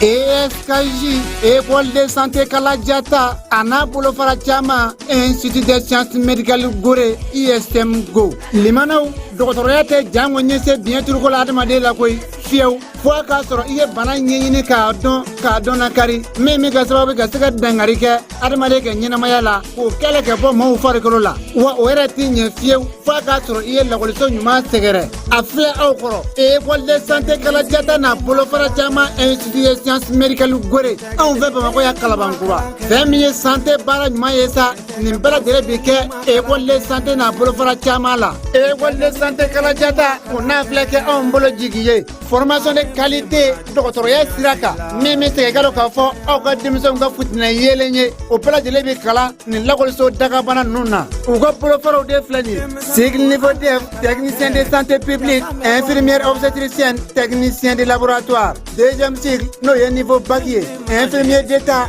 ESKJ Ecole de Santé Kalajata an'a bolofara caman Institut de Sciences Médicales Gorée ISM Go limanaw dɔgɔtɔrɔya tɛ janko n'i ye se biɲɛturu ko la adamaden la koyi fiyewu fo a k'a sɔrɔ i ye bana ɲɛɲini k'a dɔn k'a dɔn dankari min bɛ kɛ sababu ka se ka dankari kɛ adamaden ka ɲɛnamaya la k'o kɛlɛ k'a bɔ maaw farikolo la wa o yɛrɛ tɛ ɲɛ fiyewu f'a k'a sɔrɔ i ye lakɔliso ɲuman sɛgɛrɛ a filɛ aw kɔrɔ ekɔli de sante kalajata n'a bolofara caman ɛnsititi de siyansi medikali gore anw fɛ bamakɔ yan kalabankura fɛn min ye sante baara ɲuman ye sa nin bɛɛ lajɛlen bi kɛ ekɔli de sante n'a bolofara caman la ekɔli de sante kalajata o n'a filɛ kɛ anw bolo jigi ye fɔrɔmasɔn de kalite dɔgɔtɔrɔya sira kan min bɛ tigɛ galo k'a fɔ aw ka denmisɛnw ka fitinɛ yeelen ye o bɛɛ lajɛlen bɛ kalan nin lakɔliso dakabana ninnu na u ka bolofaraw de filɛ nin ye cycle niveau DEF technicien de santé publique infirmière obstétricienne technicien de laboratoire deuxième cycle n'o ye niveau bac ye infirmier d'état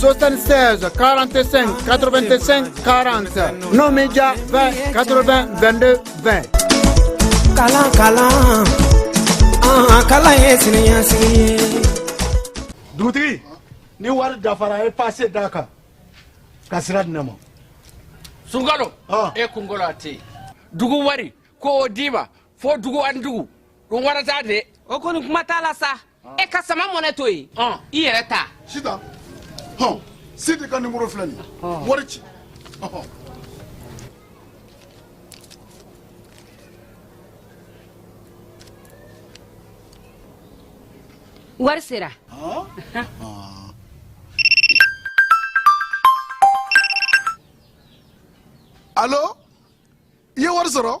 76 45 85 40 n'o m'i diya 20 80 22 20 kalan kalan an kalan ye siniɲɛsigi ye dugutigi ni wari dafara a ye paase d'a kan ka sira di ne ma sunkalo e kunkolo a tɛ yen dugu wari ko o d'i ma fo dugu ani dugu wari ta dɛ o kɔni kuma t'a la sa e ka Sama Money to yen i yɛrɛ ta sita hɔn sidi ka nimoro filɛ nin wari ci wari sera alo i ye wari sɔrɔ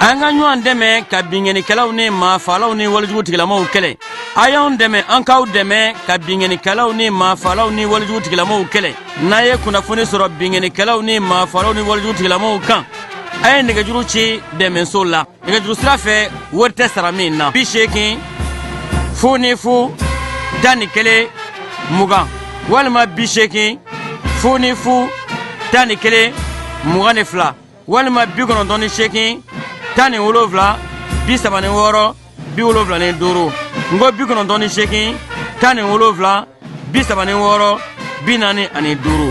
an ka ɲɔgɔn dɛmɛ ka binkɛnikɛlaw ni maafalaw ni walejugu tigilamaw kɛlɛ a y'anw dɛmɛ an k'aw dɛmɛ ka binkɛnikɛlaw ni maafalaw ni walejugu tigilamaw kɛlɛ n'a ye kunnafoni sɔrɔ binkɛnikɛlaw ni maafalaw ni walejugu tigilamaw kan a ye nɛgɛjuru ci dɛmɛso la nɛgɛjuru sira fɛ wari tɛ sara min na bi seegin fu ni fu tan ni kelen mugan walima bi seegin fu ni fu tan ni kelen mugan ni fila walima bi kɔnɔntɔn ni seegin tan ni wolonfila bi saba ni wɔɔrɔ bi wolonfila ni duuru n ko bi kɔnɔntɔn ni seegin tan ni wolonfila bi saba ni wɔɔrɔ bi naani ani duuru.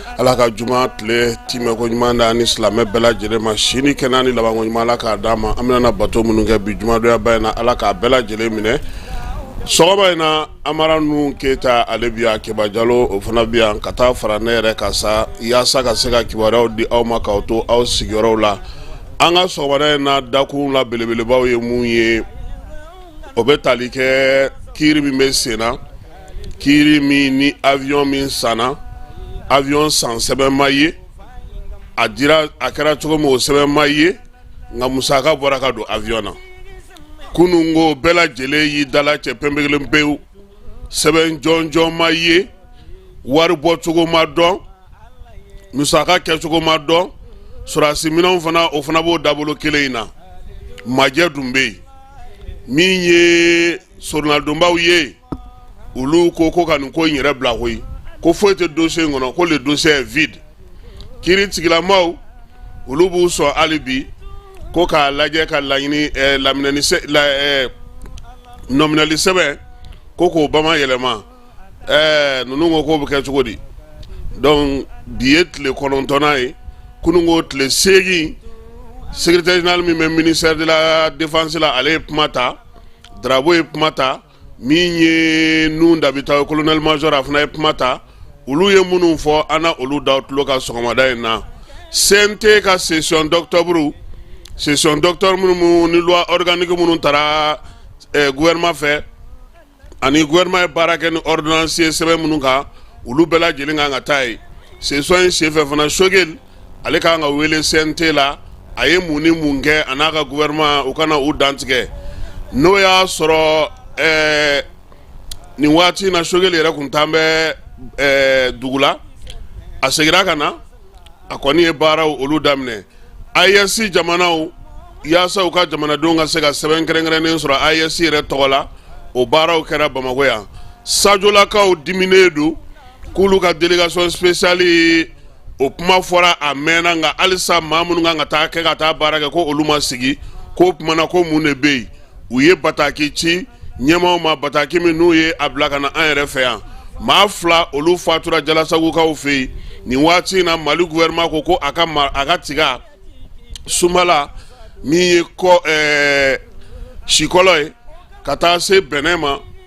ala ka juma tile timɛko ɲuman d'an ni silamɛ bɛɛ lajɛlen ma si ni kɛnɛ ni labanko ɲuman ala k'a d'an ma an bɛna bato minnu kɛ bi jumadonyaba in na ala k'a bɛɛ lajɛlen minɛ sɔgɔma in na amara nuhun keyita ale bi yan keba jalo o fana bi yan ka taa fara ne yɛrɛ kan sa yaasa ka se ka kibaruyaw di aw ma k'aw to aw sigiyɔrɔw la an ka sɔgɔmada in na dakun la belebelebaw ye mun ye o bɛ tali kɛ kiiri min bɛ sen na kiiri min ni avion min sanna avion san sɛbɛn ma ye a dira a kɛra cogo min o sɛbɛn ma ye nka musaka bɔra ka don avion na kunun ko bɛɛ lajɛlen y'i dala cɛ pɛnpɛkelen pewu sɛbɛn jɔnjɔn ma ye wari bɔcogo ma dɔn musaka kɛcogo ma dɔn sɔrɔdasi minɛnw fana o fana b'o dabolo kelen in na majɛ dun bɛ yen min ye sorunadonbaw ye olu ko ko ka nin ko in yɛrɛ bila koyi ko foyi tɛ dossier in kɔnɔ ko le dossier est vide kiiri tigilamaw olu b'u sɔn hali bi ko k'a lajɛ ka laɲini eh, laminɛni sɛ la eh, nɔminɛli sɛbɛn ko k'o bamayɛlɛma eh, ninnu ko k'o bɛ kɛ cogo di donc bi ye tile kɔnɔntɔnnan ye kunun ko tile seegin secrétaire général min bɛ ministère de la défense la ale ye kuma ta drabo ye kuma ta min ye nuhun dabita ye colonel major a fana ye kuma ta olu ye minnu fɔ an na olu d'aw tulo kan sɔgɔmada in na CNT ka session d'octobre session d'octobre minnu ni loi organique minnu taara eh, gouvernement fɛ ani gouvernement ye baara kɛ ni ordonnance ye sɛbɛn minnu kan olu bɛɛ lajɛlen kan ka taa ye session in senfɛ fana sogɛli ale ka kan ka wele CNT la a ye mun ni mun kɛ a n'a ka gouvernement u ka na u dantigɛ n'o y'a sɔrɔ ɛɛ nin waati in na Sogɛli yɛrɛ tun t'an bɛ ɛɛ dugu la a seginna ka na a kɔni ye baaraw olu daminɛ AES jamanaw yaasa u ka jamanadenw ka se ka sɛbɛn kɛrɛnkɛrɛnnen sɔrɔ AES yɛrɛ tɔgɔ la o baaraw kɛra Bamakɔ yan sajolakaw diminen don k'olu ka délégation spéciale o kuma fɔra a mɛnna nka halisa maa minnu kan ka taa kɛ ka taa baara kɛ ko olu ma sigi k'o tuma na ko mun de bɛ yen u ye bataki ci ɲɛmaaw ma bataki min n'u ye a bila ka na an yɛrɛ fɛ yan maa fila olu fatura jalasagokaw fɛ yen nin waati in na mali gouvernement ko ko a ka a ka tiga sumala min ye kɔ sikɔlɔ ye ka taa se bɛnɛ ma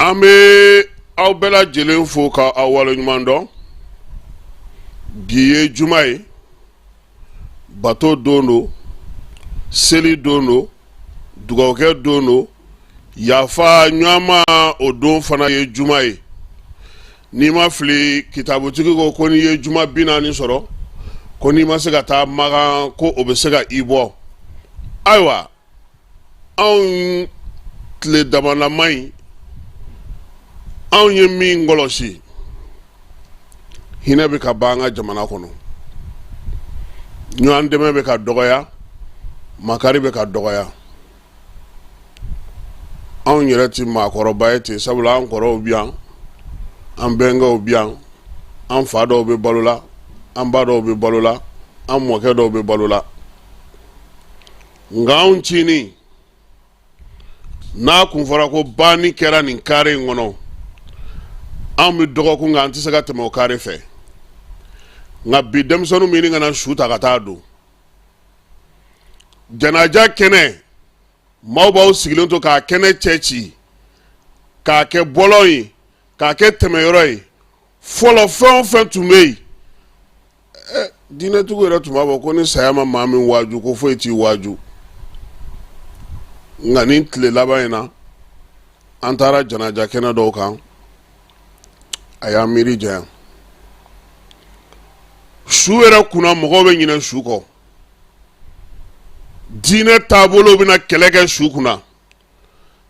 an bɛ aw bɛɛ lajɛlen fo ka aw waleɲuman dɔn bi ye juma ye bato don don seli don don dugawukɛ don don yafa ɲɔgɔnma o don fana ye juma ye n'i ma fili kitabutigi ko ko n'i ye juma bi naani sɔrɔ ko n'i ma se ka taa makan ko o bɛ se ka i bɔ ayiwa anw tile damalama in anw ye min kɔlɔsi hinɛ bɛ ka ban an ka jamana kɔnɔ ɲɔgɔn dɛmɛ bɛ ka dɔgɔya makari bɛ ka dɔgɔya anw yɛrɛ tɛ maakɔrɔba ye ten sabula an kɔrɔw bi yan an bɛnkɛw bi yan an fa dɔw bɛ balo la an ba dɔw bɛ balo la an mɔkɛ dɔw bɛ balo la nka anw cinin n'a kun fɔra ko banni kɛra nin kare in kɔnɔ anw bɛ dɔgɔkun kɛ an tɛ se ka tɛmɛ o kare fɛ nka bi denmisɛnninw bɛ ɲini ka na su ta ka taa don janaja kɛnɛ maaw b'aw sigilen to k'a kɛnɛ cɛ ci k'a kɛ bɔlɔn ye k'a kɛ tɛmɛyɔrɔ ye fɔlɔ fɛn o fɛn tun bɛ yen eh, diinɛtigiw yɛrɛ tun b'a fɔ ko ni saya ma maa min waaju ko foyi t'i waaju nka nin tile laban in na an taara janaja kɛnɛ dɔw kan a y'an miiri janya su yɛrɛ kunna mɔgɔw bɛ ɲinɛ su kɔ diinɛ taabolo bɛna kɛlɛ kɛ su kunna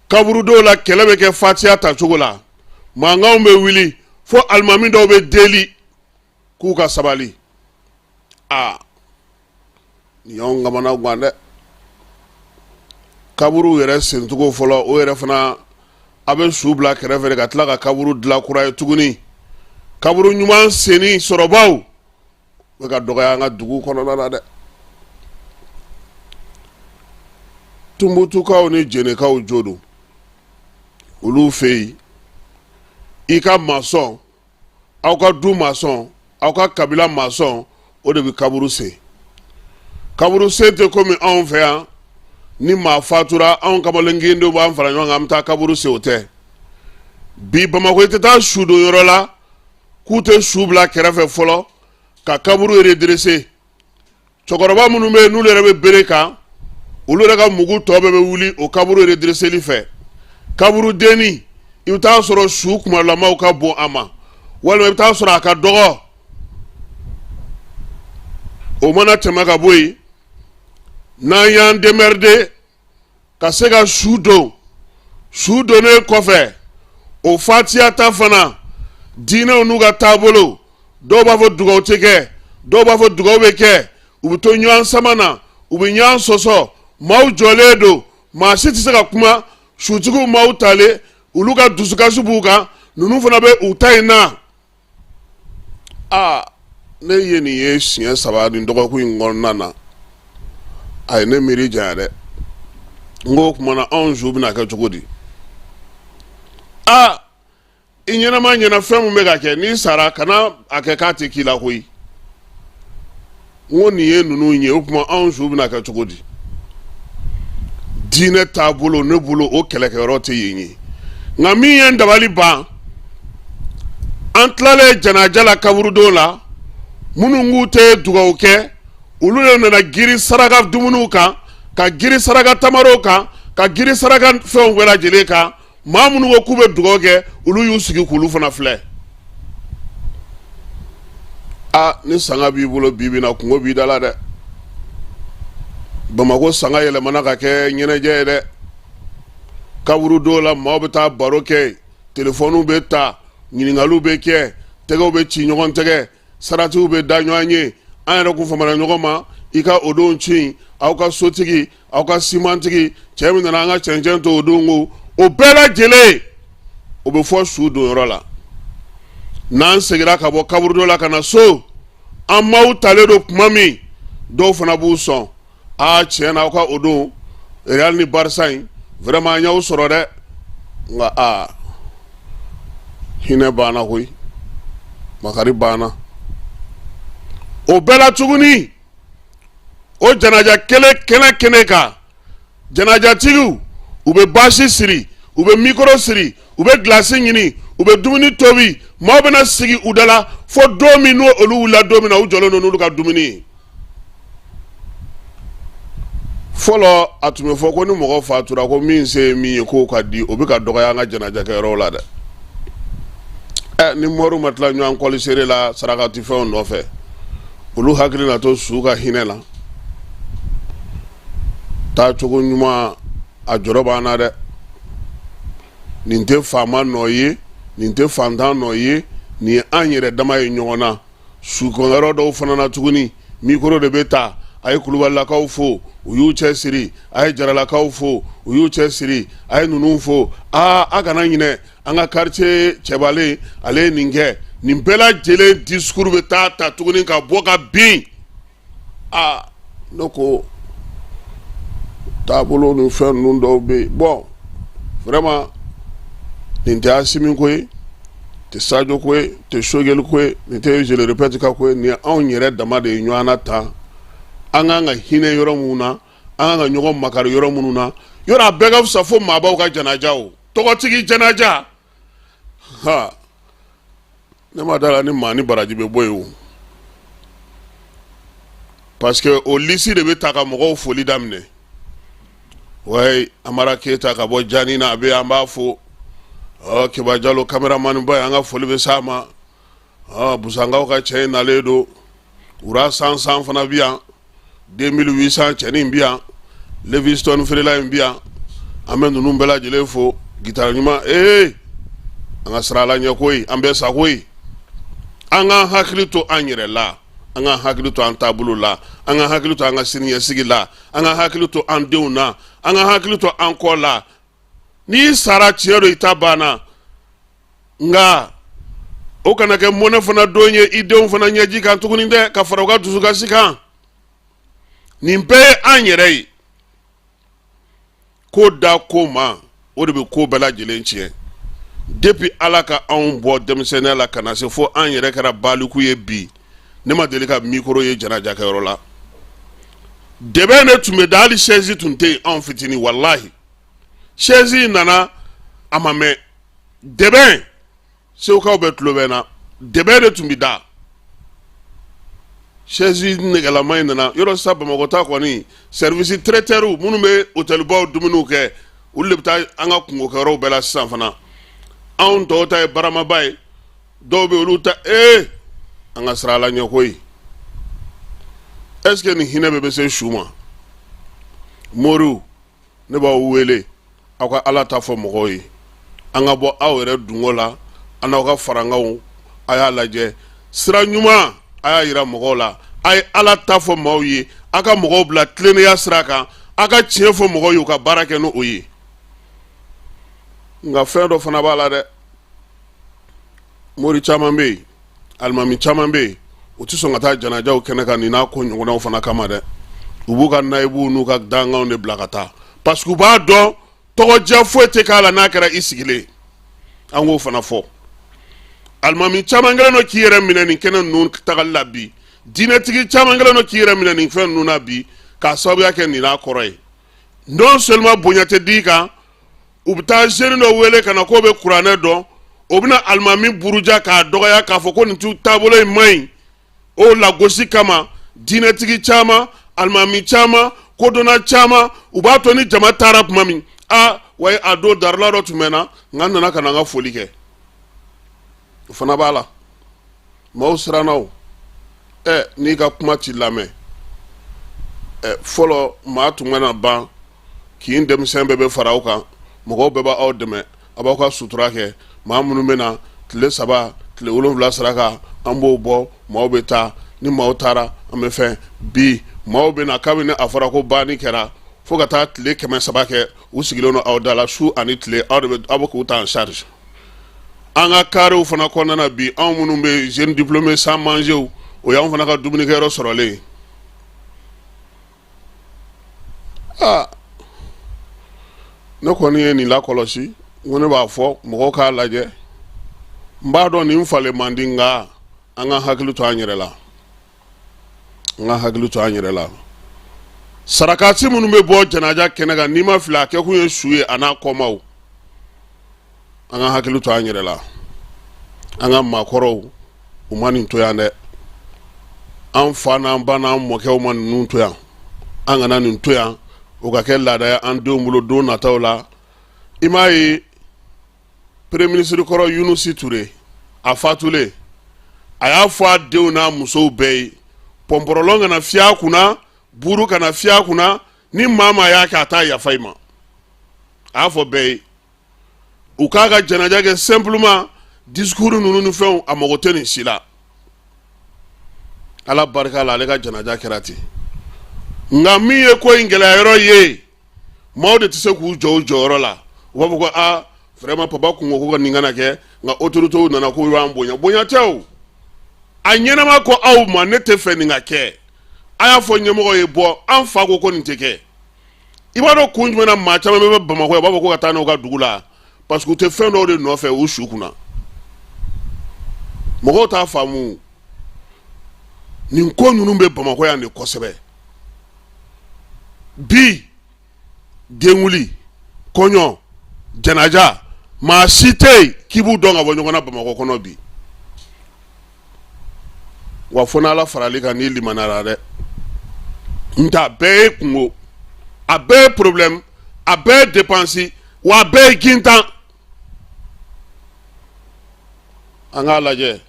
kaburu dɔw la kɛlɛ bɛ kɛ fatiya ta cogo la mankanw bɛ wuli fo alimami dɔw bɛ deli k'u ka sabali aa nin y'anw kamana gan dɛ kaburu yɛrɛ sencogo fɔlɔ o yɛrɛ fana a bɛ su bila kɛrɛfɛ ka tila ka kaburu dilan kura ye tuguni kaburu ɲuman senni sɔrɔbaw bɛ ka dɔgɔya an ka dugu kɔnɔna la dɛ tumbutukaw ni jɛnɛkaw jo don olu fɛ yen i ka masɔn aw ka du masɔn aw ka kabila masɔn o de bɛ kaburu sen kaburu sen tɛ komi anw fɛ yan ni maa fatura anw kamalen kɛndɛw b'an fara ɲɔgɔn kan an bɛ taa kaburu sen o tɛ bi bamakɔ i tɛ taa su don yɔrɔ la k'u tɛ su bila kɛrɛfɛ fɔlɔ ka kaburu redrese cɛkɔrɔba minnu bɛ yen n'olu yɛrɛ bɛ bere kan olu yɛrɛ ka mugu tɔ bɛɛ bɛ wuli o kaburu redreseli fɛ kaburu dennin i bɛ t'a sɔrɔ su kumalamaw ka bon a ma walima i bɛ t'a sɔrɔ a ka dɔgɔ o mana tɛmɛ ka bɔ yen n'an y'an demɛride ka se ka su don su donnen kɔfɛ o fatiya ta fana diinɛw n'u ka taabolo dɔw b'a fɔ dugawu tɛ kɛ dɔw b'a fɔ dugawu bɛ kɛ u bɛ to ɲɔgɔn sama na u bɛ ɲɔgɔn sɔsɔ maaw jɔlen don maa si tɛ se ka kuma sutigiw maaw taalen olu ka dusukasi b'u kan ninnu fana bɛ u ta in na aa ne ye nin ye siɲɛ saba nin dɔgɔkun in kɔnɔna na a ye ne miiri janya dɛ n ko o tuma na anw su bɛna kɛ cogo di aa i ɲɛnama ɲɛ na fɛn min bɛ ka kɛ n'i sara kana a kɛ k'a tɛ k'i la koyi n ko nin ye ninnu ye o tuma anw su bɛna kɛ cogo di diinɛ taabolo ne bolo o kɛlɛkɛyɔrɔ tɛ yen ye nka min ye n dabali ban an tilalen janaja la kaburudon la minnu k'u tɛ dugawu kɛ olu de nana girin saraka dumuniw kan ka girin saraka tamarow kan ka girin saraka fɛnw bɛɛ lajɛlen kan maa minnu ko k'u bɛ dugawu kɛ olu y'u sigi k'olu fana filɛ a ni sanga b'i bolo bi bi na kunko b'i da la dɛ bamakɔ sanga yɛlɛmana ka kɛ ɲɛnajɛ ye dɛ kaburudon la maaw bɛ taa baro kɛ telefɔniw bɛ ta ɲininkaliw bɛ kɛ tɛgɛw bɛ ci ɲɔgɔn tɛgɛ saratiw bɛ da ɲɔgɔn ye an yɛrɛ kun famana ɲɔgɔn ma i ka o don ci in aw ka sotigi aw ka simantigi cɛ min nana an ka cɛncɛn to o don ko o bɛɛ lajɛlen o bɛ fɔ su donyɔrɔ la n'an seginna ka bɔ kaburudon la ka na so an maaw talen don tuma min dɔw fana b'u sɔn aa tiɲɛ na aw ka o don Real ni Barça in vraiment an y'aw sɔrɔ dɛ nka aa hinɛ banna koyi makari banna o bɛɛ la tuguni o janaja kelen kɛnɛ kɛnɛ kan janajatigiw u bɛ basi siri u bɛ mikoro siri u bɛ gilasi ɲini u bɛ dumuni tobi maaw bɛna sigi u da la fo don min n'o olu wulila don min na u jɔlen don n'olu ka dumuni ye fɔlɔ a tun bɛ fɔ ko ni mɔgɔ fatura ko min se ye min ye k'o k'a di o bɛ ka dɔgɔya an ka janajakɛyɔrɔw la dɛ ɛ ni mɔriw ma tila ɲɔgɔn kɔlisere la sarakatifɛnw nɔfɛ olu hakili na to su ka hinɛ la taa cogo ɲuman a jɔrɔ b'an na dɛ nin tɛ faama nɔ ye nin tɛ fantan nɔ ye nin ye an yɛrɛ dama ye ɲɔgɔn na sukɔnyɔrɔ dɔw fana na tuguni mikoro de bɛ ta a ye kulubalilakaw fo u y'u cɛ siri a ye jaralakaw fo u y'u cɛ siri a ye ninnu fo aa a kana ɲinɛ an ka quartier cɛbalen ale ye nin kɛ nin bɛɛ lajɛlen disikuru bɛ taa ta tuguni ka bɔ ka bin aa ne ko taabolo ni fɛn ninnu dɔw bɛ yen bon vraiment nin tɛ Asimi ko ye tɛ Sajo ko ye tɛ Sogɛli ko ye nin tɛ je le répète ka ko ye nin ye anw yɛrɛ dama de ye ɲɔgɔn na tan an kan ka hinɛ yɔrɔ minnu na an kan ka ɲɔgɔn makari yɔrɔ minnu na yɔrɔ a bɛɛ ka fisa fo maabaw ka janaja o tɔgɔtigi janaja ha ne ma d'a la ni maa ni baraji bɛ bɔ yen o parce que o lisi de bɛ ta ka mɔgɔw foli daminɛ wayi amara keyita ka bɔ jani na a bɛ an b'a fo ɔ keba jalo kameramaniba an ka foli bɛ s'a ma aa busankaw ka cɛ in nalen don wura san san fana bi yan 2800 cɛnin bi yan leviston feerela in bi yan an bɛ ninnu bɛɛ lajɛlen fo gitara ɲuman ee an ka sira laɲɛ koyi an bɛ sa koyi an k'an hakili to an yɛrɛ la an ka hakili to an taabolo la an ka hakili to an ka siniɲɛsigi la an ka hakili to an denw na an ka hakili to an kɔ la n'i sara tiɲɛ don i ta banna nka o kana kɛ mɔnɛ fana don ye i denw fana ɲɛji kan tuguni dɛ ka fara u ka dusukasi kan nin bɛɛ ye an yɛrɛ ye ko da ko ma o de bɛ ko bɛɛ lajɛlen tiɲɛ depuis ala ka anw bɔ denmisɛnninya la ka na se fo an yɛrɛ kɛra baliku ye bi ne ma deli ka mikoro ye janajakɛyɔrɔ la dɛbɛn de tun bɛ da hali sɛsi tun tɛ yen anw fitinin walahi sɛsi nana a ma mɛn dɛbɛn segukaw bɛɛ tulo bɛ n na dɛbɛn de tun bɛ da sɛsi nɛgɛlama in nana yɔrɔ sisan bamakɔ ta kɔni service traiteurw minnu bɛ otɛlibaw dumuniw kɛ olu de bɛ taa an ka kungokɛyɔrɔw bɛɛ la sisan fana anw tɔw ta ye baramaba ye dɔw bɛ olu ta ee an ka sira laɲɛ koyi est-ce que nin hinɛ bɛ bɛ se su ma moriw ne b'aw wele aw ka ala ta fɔ mɔgɔw ye an ka bɔ aw yɛrɛ dungɔ la a n'aw ka farankanw a y'a lajɛ sira ɲuman a y'a yira mɔgɔw la a ye ala ta fɔ maaw ye aw ka mɔgɔw bila tilennenya sira kan aw ka tiɲɛ fɔ mɔgɔw ye u ka baara kɛ n'o ye nka fɛn dɔ fana b'a la dɛ mori caman bɛ yen alimami caman bɛ yen u tɛ sɔn ka taa janajaw kɛnɛ kan nin n'a ko ɲɔgɔnnaw fana kama dɛ u b'u ka nayibuw n'u ka dankanw de bila ka taa parce que u b'a dɔn tɔgɔdiya foyi tɛ k'a la n'a kɛra i sigilen an k'o fana fɔ alimami caman kɛlen don k'i yɛrɛ minɛ nin kɛnɛ ninnu tagali la bi diinɛtigi caman kɛlen don k'i yɛrɛ minɛ nin fɛn ninnu na bi k'a sababuya kɛ nin n'a kɔrɔ ye non seulement bonya tɛ d'i kan u bɛ taa jeune dɔ wele ka na k'o bɛ kuranɛ dɔn o bɛna alimami buruja k'a dɔgɔya k'a fɔ ko nin tu taabolo in man ɲi o lagosi kama diinɛtigi caman alimami caman kodɔnna caman u b'a to ni jama taara tuma min a wa a don darila dɔ tun bɛ n na nka n nana ka na n ka foli kɛ o fana b'a la maaw siranna o ɛ n'i ka kuma ti lamɛn ɛ fɔlɔ maa tun bɛna ban kin denmisɛn bɛɛ bɛ fara aw kan mɔgɔw bɛɛ b'aw dɛmɛ a b'aw ka sutura kɛ maa minnu bɛ na tile saba tile wolonwula saraka an b'o bɔ maaw bɛ taa ni maaw taara an bɛ fɛn bi maaw bɛ na kabini a fɔra ko banni kɛra fo ka taa tile kɛmɛ saba kɛ u sigilen don aw da la su ani tile aw de bɛ aw bɛ k'u ta en charge an ka karew fana kɔnɔna bi anw minnu bɛ yen jeunes diplômés sans manger o y'an fana ka dumunikɛyɔrɔ sɔrɔlen aa ne kɔni ye nin lakɔlɔsi n ko ne b'a fɔ mɔgɔw k'a lajɛ n b'a dɔn nin falen man di nka an ka hakili to an yɛrɛ la an ka hakili to an yɛrɛ la sarakati minnu bɛ bɔ janaja kɛnɛ kan ni n ma fili a kɛ kun ye su ye a n'a kɔmaw an ka hakili to an yɛrɛ la an ka maakɔrɔw u ma nin to yan dɛ an fa n'an ba n'an mɔkɛw ma ninnu to yan an kana nin to yan o ka kɛ laada ye an denw bolo don nataw la i m'a ye premier ministre kɔrɔ yunusi ture a fatulen a y'a fɔ a denw n'a musow bɛɛ ye pɔnpɔrɔlɔn kana fiyɛ a kunna buuru kana fiyɛ a kunna ni maa maa y'a kɛ a t'a yafa i ma a y'a fɔ bɛɛ ye u k'a ka janaja kɛ simplement discours ninnu ni fɛnw a mago tɛ nin si la ala barika la ale ka janaja kɛra ten nka min ye ko in gɛlɛya yɔrɔ ye maaw de tɛ se k'u jɔ u jɔyɔrɔ la u b'a fɔ ko a vraiment papa kun ko ko ka nin kana kɛ nka autorités nana k'u b'an bonya bonya tɛ o a ɲɛnama ko aw ma ne tɛ fɛ nin ka kɛ a y'a fɔ ɲɛmɔgɔ ye bon an fa ko ko nin tɛ kɛ i b'a dɔn kun jumɛn na maa caman bɛ ban bamakɔ u b'a fɔ ko ka taa n'u ka dugu la parce que u tɛ fɛn dɔw de nɔfɛ u su kunna mɔgɔw t'a faamu nin ko ninnu bɛ bamakɔ yan de kosɛbɛ bi denkunli kɔɲɔ janaja maa si tɛ yen k'i b'u dɔn ka bɔ ɲɔgɔn na bamakɔ kɔnɔ bi wa fo n'ala faral'i kan n'i limanara dɛ n tɛ a bɛɛ ye kunko a bɛɛ ye problème a bɛɛ ye dépense wa a bɛɛ ye gintan an k'a lajɛ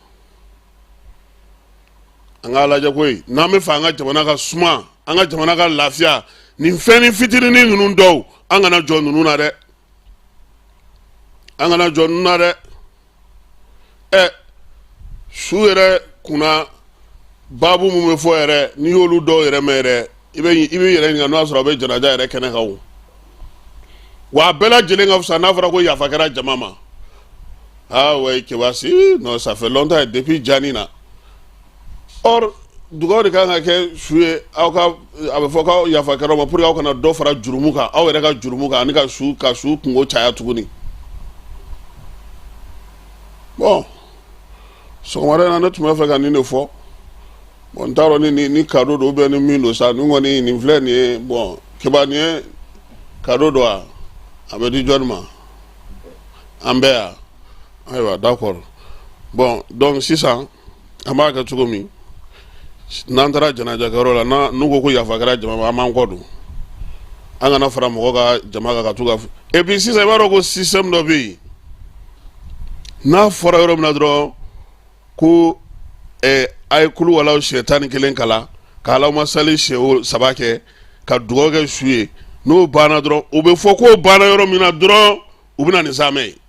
an k'a lajɛ koyi n'an b'a fɛ an ka jamana ka suma an ka jamana ka lafiya nin fɛnnin fitinin ninnu dɔw an kana jɔ ninnu na dɛ an kana jɔ ninnu na dɛ ɛ su yɛrɛ kunna baabu min bɛ fɔ yɛrɛ n'i y'olu dɔw yɛrɛ mɛn yɛrɛ i bɛ yɛrɛ ɲininka n'o y'a sɔrɔ a bɛ janaja yɛrɛ kɛnɛ kan o wa a bɛɛ lajɛlen ka fisa n'a fɔra ko yafa kɛra jama ma aa ouais Keba sinon ça fait longtemps depuis jani na dugaw de kan ka kɛ su ye aw ka a bɛ fɔ k'aw yafa kɛra ma pour que aw kana dɔ fara jurumu kan aw yɛrɛ ka jurumu kan ani ka su kunko caya tuguni bon sɔgɔmada na ne tun b'a fɛ ka nin de fɔ bon n t'a dɔn ni ni cadeau don ou bien ni min don sa nin kɔni nin filɛ nin ye bon Keba nin ye cadeau don a a bɛ di jɔni ma an bɛɛ yan ayiwa d'accord bon donc sisan an b'a kɛ cogo min n'an taara janajakɛyɔrɔ la n'a n'u ko ko yafa kɛra jama ma an b'an kɔ don an kana fara mɔgɔ ka jama kan ka to ka et puis sisan i b'a dɔn ko système dɔ bɛ yen n'a fɔra yɔrɔ min na dɔrɔn ko eh, a ye kuluwalawu siɲɛ tan ni kelen kalan ka Allahumma salli siɲɛ saba kɛ ka dugawu kɛ su ye n'o banna dɔrɔn o bɛ fɔ k'o banna yɔrɔ min na dɔrɔn u bɛ na ni zamɛ ye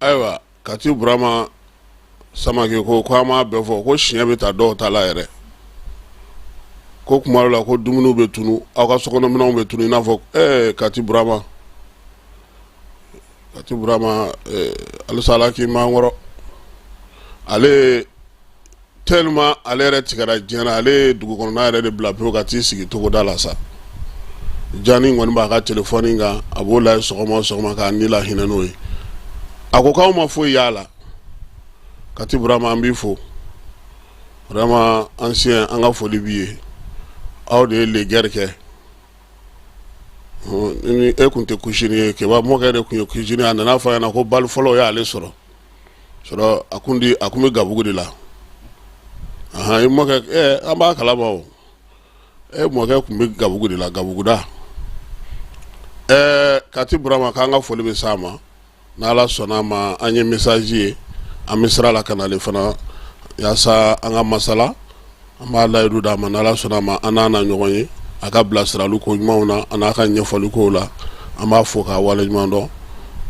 Ayiwa Kati Burama Samake ko ko an ma bɛɛ fɔ ko siɲɛ bɛ taa dɔw ta la yɛrɛ ko tuma dɔ la ko dumuniw bɛ tunu aw ka sokɔnɔminɛnw bɛ tunu i n'a fɔ Kati Burama Kati Burama halisa Ala k'i mankɔrɔ ale tellement ale yɛrɛ tigɛra diɲɛ na ale ye dugu kɔnɔ yɛrɛ de bila ka t'i sigi togoda la sa Jani kɔni b'a ka telefɔni kan a b'o lajɛ sɔgɔma o sɔgɔma k'a ni lahinɛ n'o ye a ko k'aw ma foyi y'a la Kati Burama an b'i fo Burama ancien an ka foli b'i ye aw de ye legɛri kɛ e tun tɛ kusini ye Keba mɔkɛ de tun ye kusini a nana fɔ a ɲɛna ko bali fɔlɔ y'ale sɔrɔ a kun di a tun bɛ gabugu de la i mɔkɛ an b'a kala ma o e mɔkɛ tun bɛ gabugu de la gabuguda ɛɛ Kati Burama k'an ka foli bɛ s'a ma n'Ala sɔnna a ma an ye message ye an bɛ sira la ka n'ale fana yaasa an ka masala an b'a layidu d'a ma n'Ala sɔnna a ma an n'a na ɲɔgɔn ye a ka bilasirali ko ɲumanw na ani a ka ɲɛfɔli kow la an b'a fɔ k'a wale ɲuman dɔn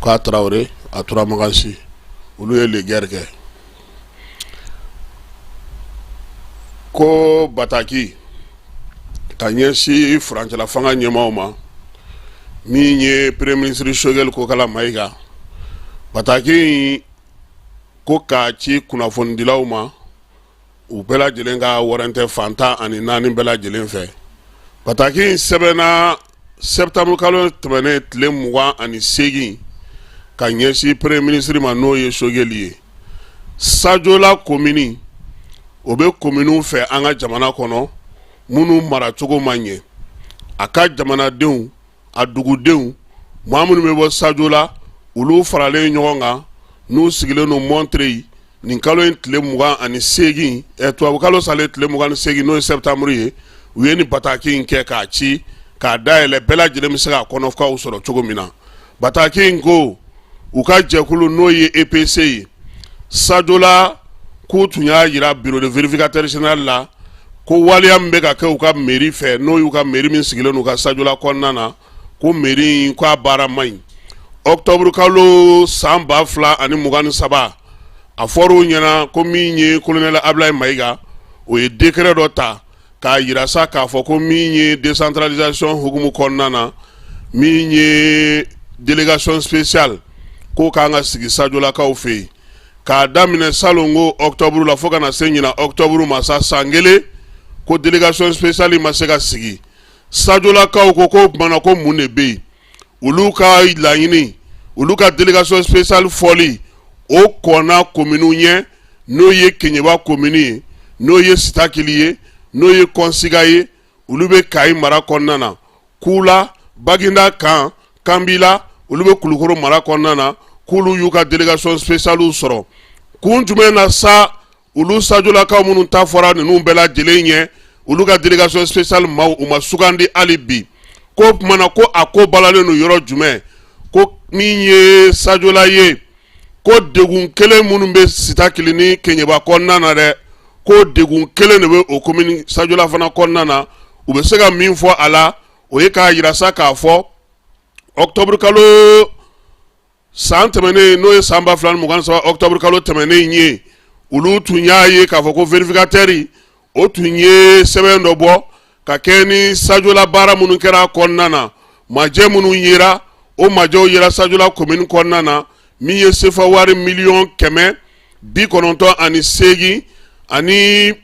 k'a Tarawele a Turamagansi olu ye legɛri kɛ ko bataki ka ɲɛsin furancɛla fanga ɲɛmaaw ma min ye premier ministre Choguel Kokala Mayiga bataki in ko k'a ci kunnafonidilaw ma u bɛɛ lajɛlen ka waran tɛ fantan ani naani bɛɛ lajɛlen fɛ bataki in sɛbɛnna sɛtanburu kalo tɛmɛnen tile mugan ani segin ka ɲɛsin premier ministre ma n'o ye sogɛli ye sajola komini o bɛ kominiw fɛ an ka jamana kɔnɔ minnu maracogo ma ɲɛ a ka jamanadenw a dugudenw maa minnu bɛ bɔ sajola olu faralen ɲɔgɔn kan n'u sigilen don montreuil nin kalo in tile mugan ani segin eh, tubabu kalo salen tile mugan ni segin n'o ye sɛtanburu ye u ye nin bataki in kɛ k'a ci k'a dayɛlɛ bɛɛ lajɛlen bɛ se k'a kɔnɔkow sɔrɔ cogo min na bataki in ko u ka jɛkulu n'o ye epc ye sajola k'u tun y'a jira bureau de vérificateur général la ko waleya min bɛ ka kɛ u ka mairie fɛ n'o y'u ka mairie min sigilen u ka sajola kɔnɔna na ko mairie in ko a baara man ɲi ɔktɔburu kalo san ba fila ani mugan ni saba a fɔra u ɲɛna ko min ye kolonɛl ablayi mayiga o ye décret dɔ ta k'a jira sa k'a fɔ ko min ye décentralisation hukumu kɔnɔna na min ye délégation spéciale k'o kan ka sigi sajolakaw fɛ yen k'a daminɛ salon ko ɔktɔburu la fo ka na se ɲina ɔktɔburu ma sa san kelen ko délégation spéciale ma se ka sigi sajolakaw ko k'o tuma na ko mun de bɛ yen olu ka laɲini olu ka délégation spéciale fɔli o kɔnna kominiw ɲɛ n'o ye keɲeba komini ye n'o ye sitakili ye n'o ye kɔnsiga ye olu bɛ kayi mara kɔnɔna na kula baginda kan kanbila olu bɛ kulukoro mara kɔnɔna na k'olu y'u ka délégation spéciale sɔrɔ kun jumɛn na sa olu sajolakaw minnu ta fɔra ninnu bɛɛ lajɛlen ɲɛ olu ka délégation spéciale maaw u ma sugandi hali bi k'o tuma na ko a ko balalen don yɔrɔ jumɛn ko min ye sajola ye ko degun kelen minnu bɛ sitakili ni keɲeba kɔnɔna na dɛ ko degun kelen de bɛ o komini sajola fana kɔnɔna na u bɛ se ka min fɔ a la o ye k'a jira sa k'a fɔ ɔktɔburu kalo san tɛmɛnen n'o ye san ba fila ni mugan ni saba octobre kalo tɛmɛnen ye olu tun y'a ye k'a fɔ ko vérificateur o tun ye sɛbɛn dɔ bɔ ka kɛɲɛ ni sajola baara minnu kɛra kɔnɔna na majɛ minnu yera o majɛw yera sajola commune kɔnɔna na min ye sefa wari miliyɔn kɛmɛ bi kɔnɔntɔn ani seegin ani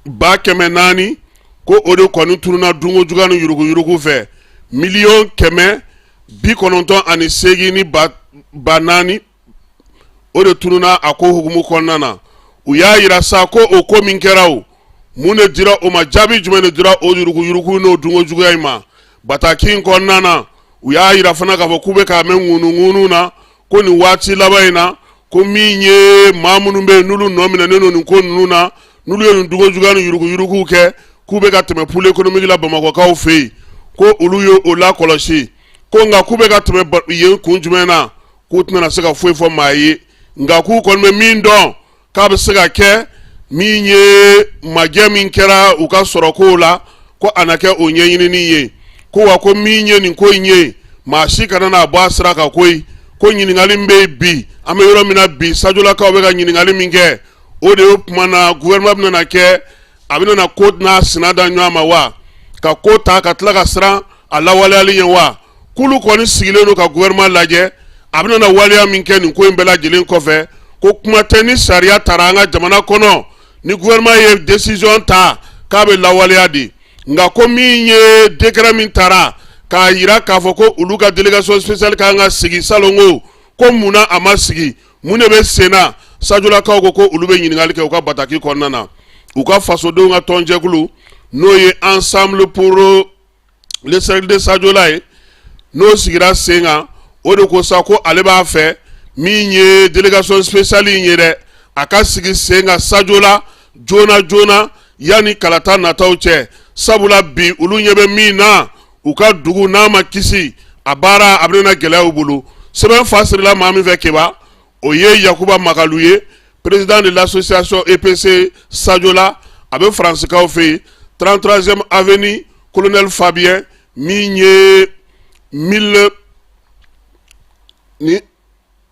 ba kɛmɛ naani ko o de kɔni tununna dunko juguya ni yuruguyurugu fɛ miliyɔn kɛmɛ bi kɔnɔntɔn ani seegin ni ba ba naani o de tununna a ko hukumu kɔnɔna na u y'a jira sa ko o ko min kɛra o mun de dira o ma jaabi jumɛn de dira o yuruguyurugu n'o dunko juguya in ma bataki in kɔnɔna na u y'a jira fana k'a fɔ k'u bɛ k'a mɛn ŋunuŋunu na ko nin waati laban in na ko min ye maa minnu bɛ yen n'olu nɔ minɛnen don nin ko ninnu na n'olu ye nin dugujugu ni yuruguyuruguw kɛ k'u bɛ ka tɛmɛ pôle économique la bamakɔkaw fɛ yen ko olu ye o la kɔlɔsi ko nka k'u bɛ ka tɛmɛ yen kun jumɛn na k'u tɛna se ka foyi fɔ maa ye nka k'u kɔni bɛ min dɔn k'a bɛ se ka kɛ min ye majɛ min kɛra u ka sɔrɔ ko la ko a na kɛ o ɲɛɲinini ye ko wa ko min ye nin ko in ye maa si kana n'a bɔ a sira kan koyi ko ɲininkali min bɛ yen bi an bɛ yɔrɔ min na bi Sajolakaw bɛ ka ɲininkali min kɛ o de ye o tuma na gouvernement bɛna kɛ a bɛ na ko n'a sina da ɲɔgɔn ma wa ka ko ta ka tila ka siran a lawaleyali ɲɛ wa k'olu kɔni sigilen don ka gouvernement lajɛ a bɛ na waleya min kɛ nin ko in bɛɛ lajɛlen kɔfɛ ko kuma tɛ ni sariya taara an ka jamana kɔnɔ ni gouvernement ye décision ta k'a bɛ lawaleya de nka ko min ye décret min taara k'a jira k'a fɔ ko olu ka délégation spéciale ka kan ka sigi salon ko ko munna a ma sigi mun de bɛ senna Sajolakaw ko ko olu bɛ ɲininkali kɛ u ka bataki kɔnɔna na u ka fasodenw ka tɔnjɛkulu n'o ye ensemble pour le cercle de Sajola ye n'o sigira sen kan o de ko sa ko ale b'a fɛ min ye délégation spéciale in ye dɛ a ka sigi sen kan Sajola joona joona yanni kalata nataw cɛ sabula bi olu ɲɛ bɛ min na u ka dugu n'a ma kisi a baara a bɛna gɛlɛya u bolo sɛbɛn fa sirila maa min fɛ keba o ye yakuba makalu ye président de l'association EPC Sajola a bɛ faransikaw fɛ yen 33e avenue colonel Fabien min ye 1000 ni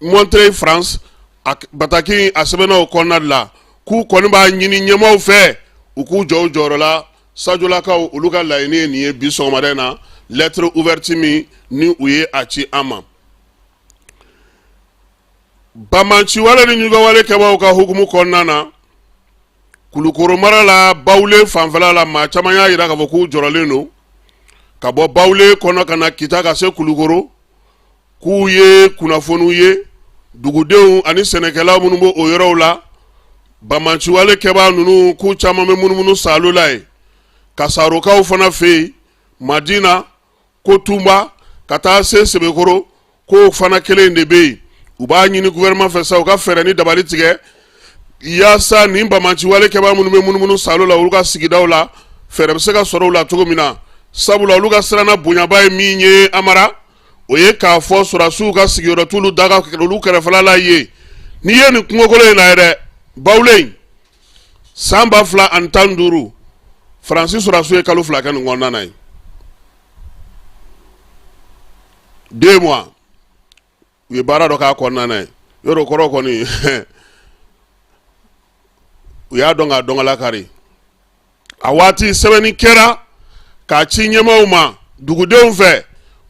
Montreuil France a bataki a sɛbɛnna o kɔnɔna de la k'u kɔni b'a ɲini ɲɛmaaw fɛ u k'u jɔ u jɔyɔrɔ la Sajolakaw olu ka laɲini ye nin ye bi sɔgɔmada na lettre ouverte min ni u ye a ci an ma bamanciwale ni ɲugawale kɛbaaw ka hukumu kɔnɔna na kulukɔrɔ mara la Bawule fanfɛ la maa caman y'a jira k'a fɔ k'u jɔrɔlen don ka bɔ Bawule kɔnɔ ka na kita ka se kulukoro k'u ye kunnafoniw ye dugudenw ani sɛnɛkɛlaw minnu bɛ o yɔrɔw la bamanciwale kɛbaa ninnu k'u caman bɛ munumunu salo la ye Kasarokaw fana fɛ yen Madina Kotuba ka taa se sebekoro k'o fana kelen de bɛ yen u b'a ɲini gouvernement fɛ sa u ka fɛɛrɛ ni dabali tigɛ yaasa nin bamanciwale kɛbaa minnu bɛ munumunu salo la olu ka sigidaw la fɛɛrɛ bɛ se ka sɔrɔ u la cogo min na sabula olu ka siranna bonyaba ye min ye amara o ye k'a fɔ sɔrɔsiw ka sigiyɔrɔ t'olu daga olu kɛrɛfɛla la ye n'i ye nin kungokolon in lajɛ dɛ bawule in san ba fila ani tan ni duuru faransi sɔrɔsiw ye kalo fila kɛ nin kɔnɔna na yen deux mois u ye baara dɔ k'a kɔnɔna na yen yɔrɔ kɔrɔ kɔni u y'a dɔn k'a dɔn ka lakari a waati sɛbɛnni kɛra k'a ci ɲɛmaaw ma dugudenw fɛ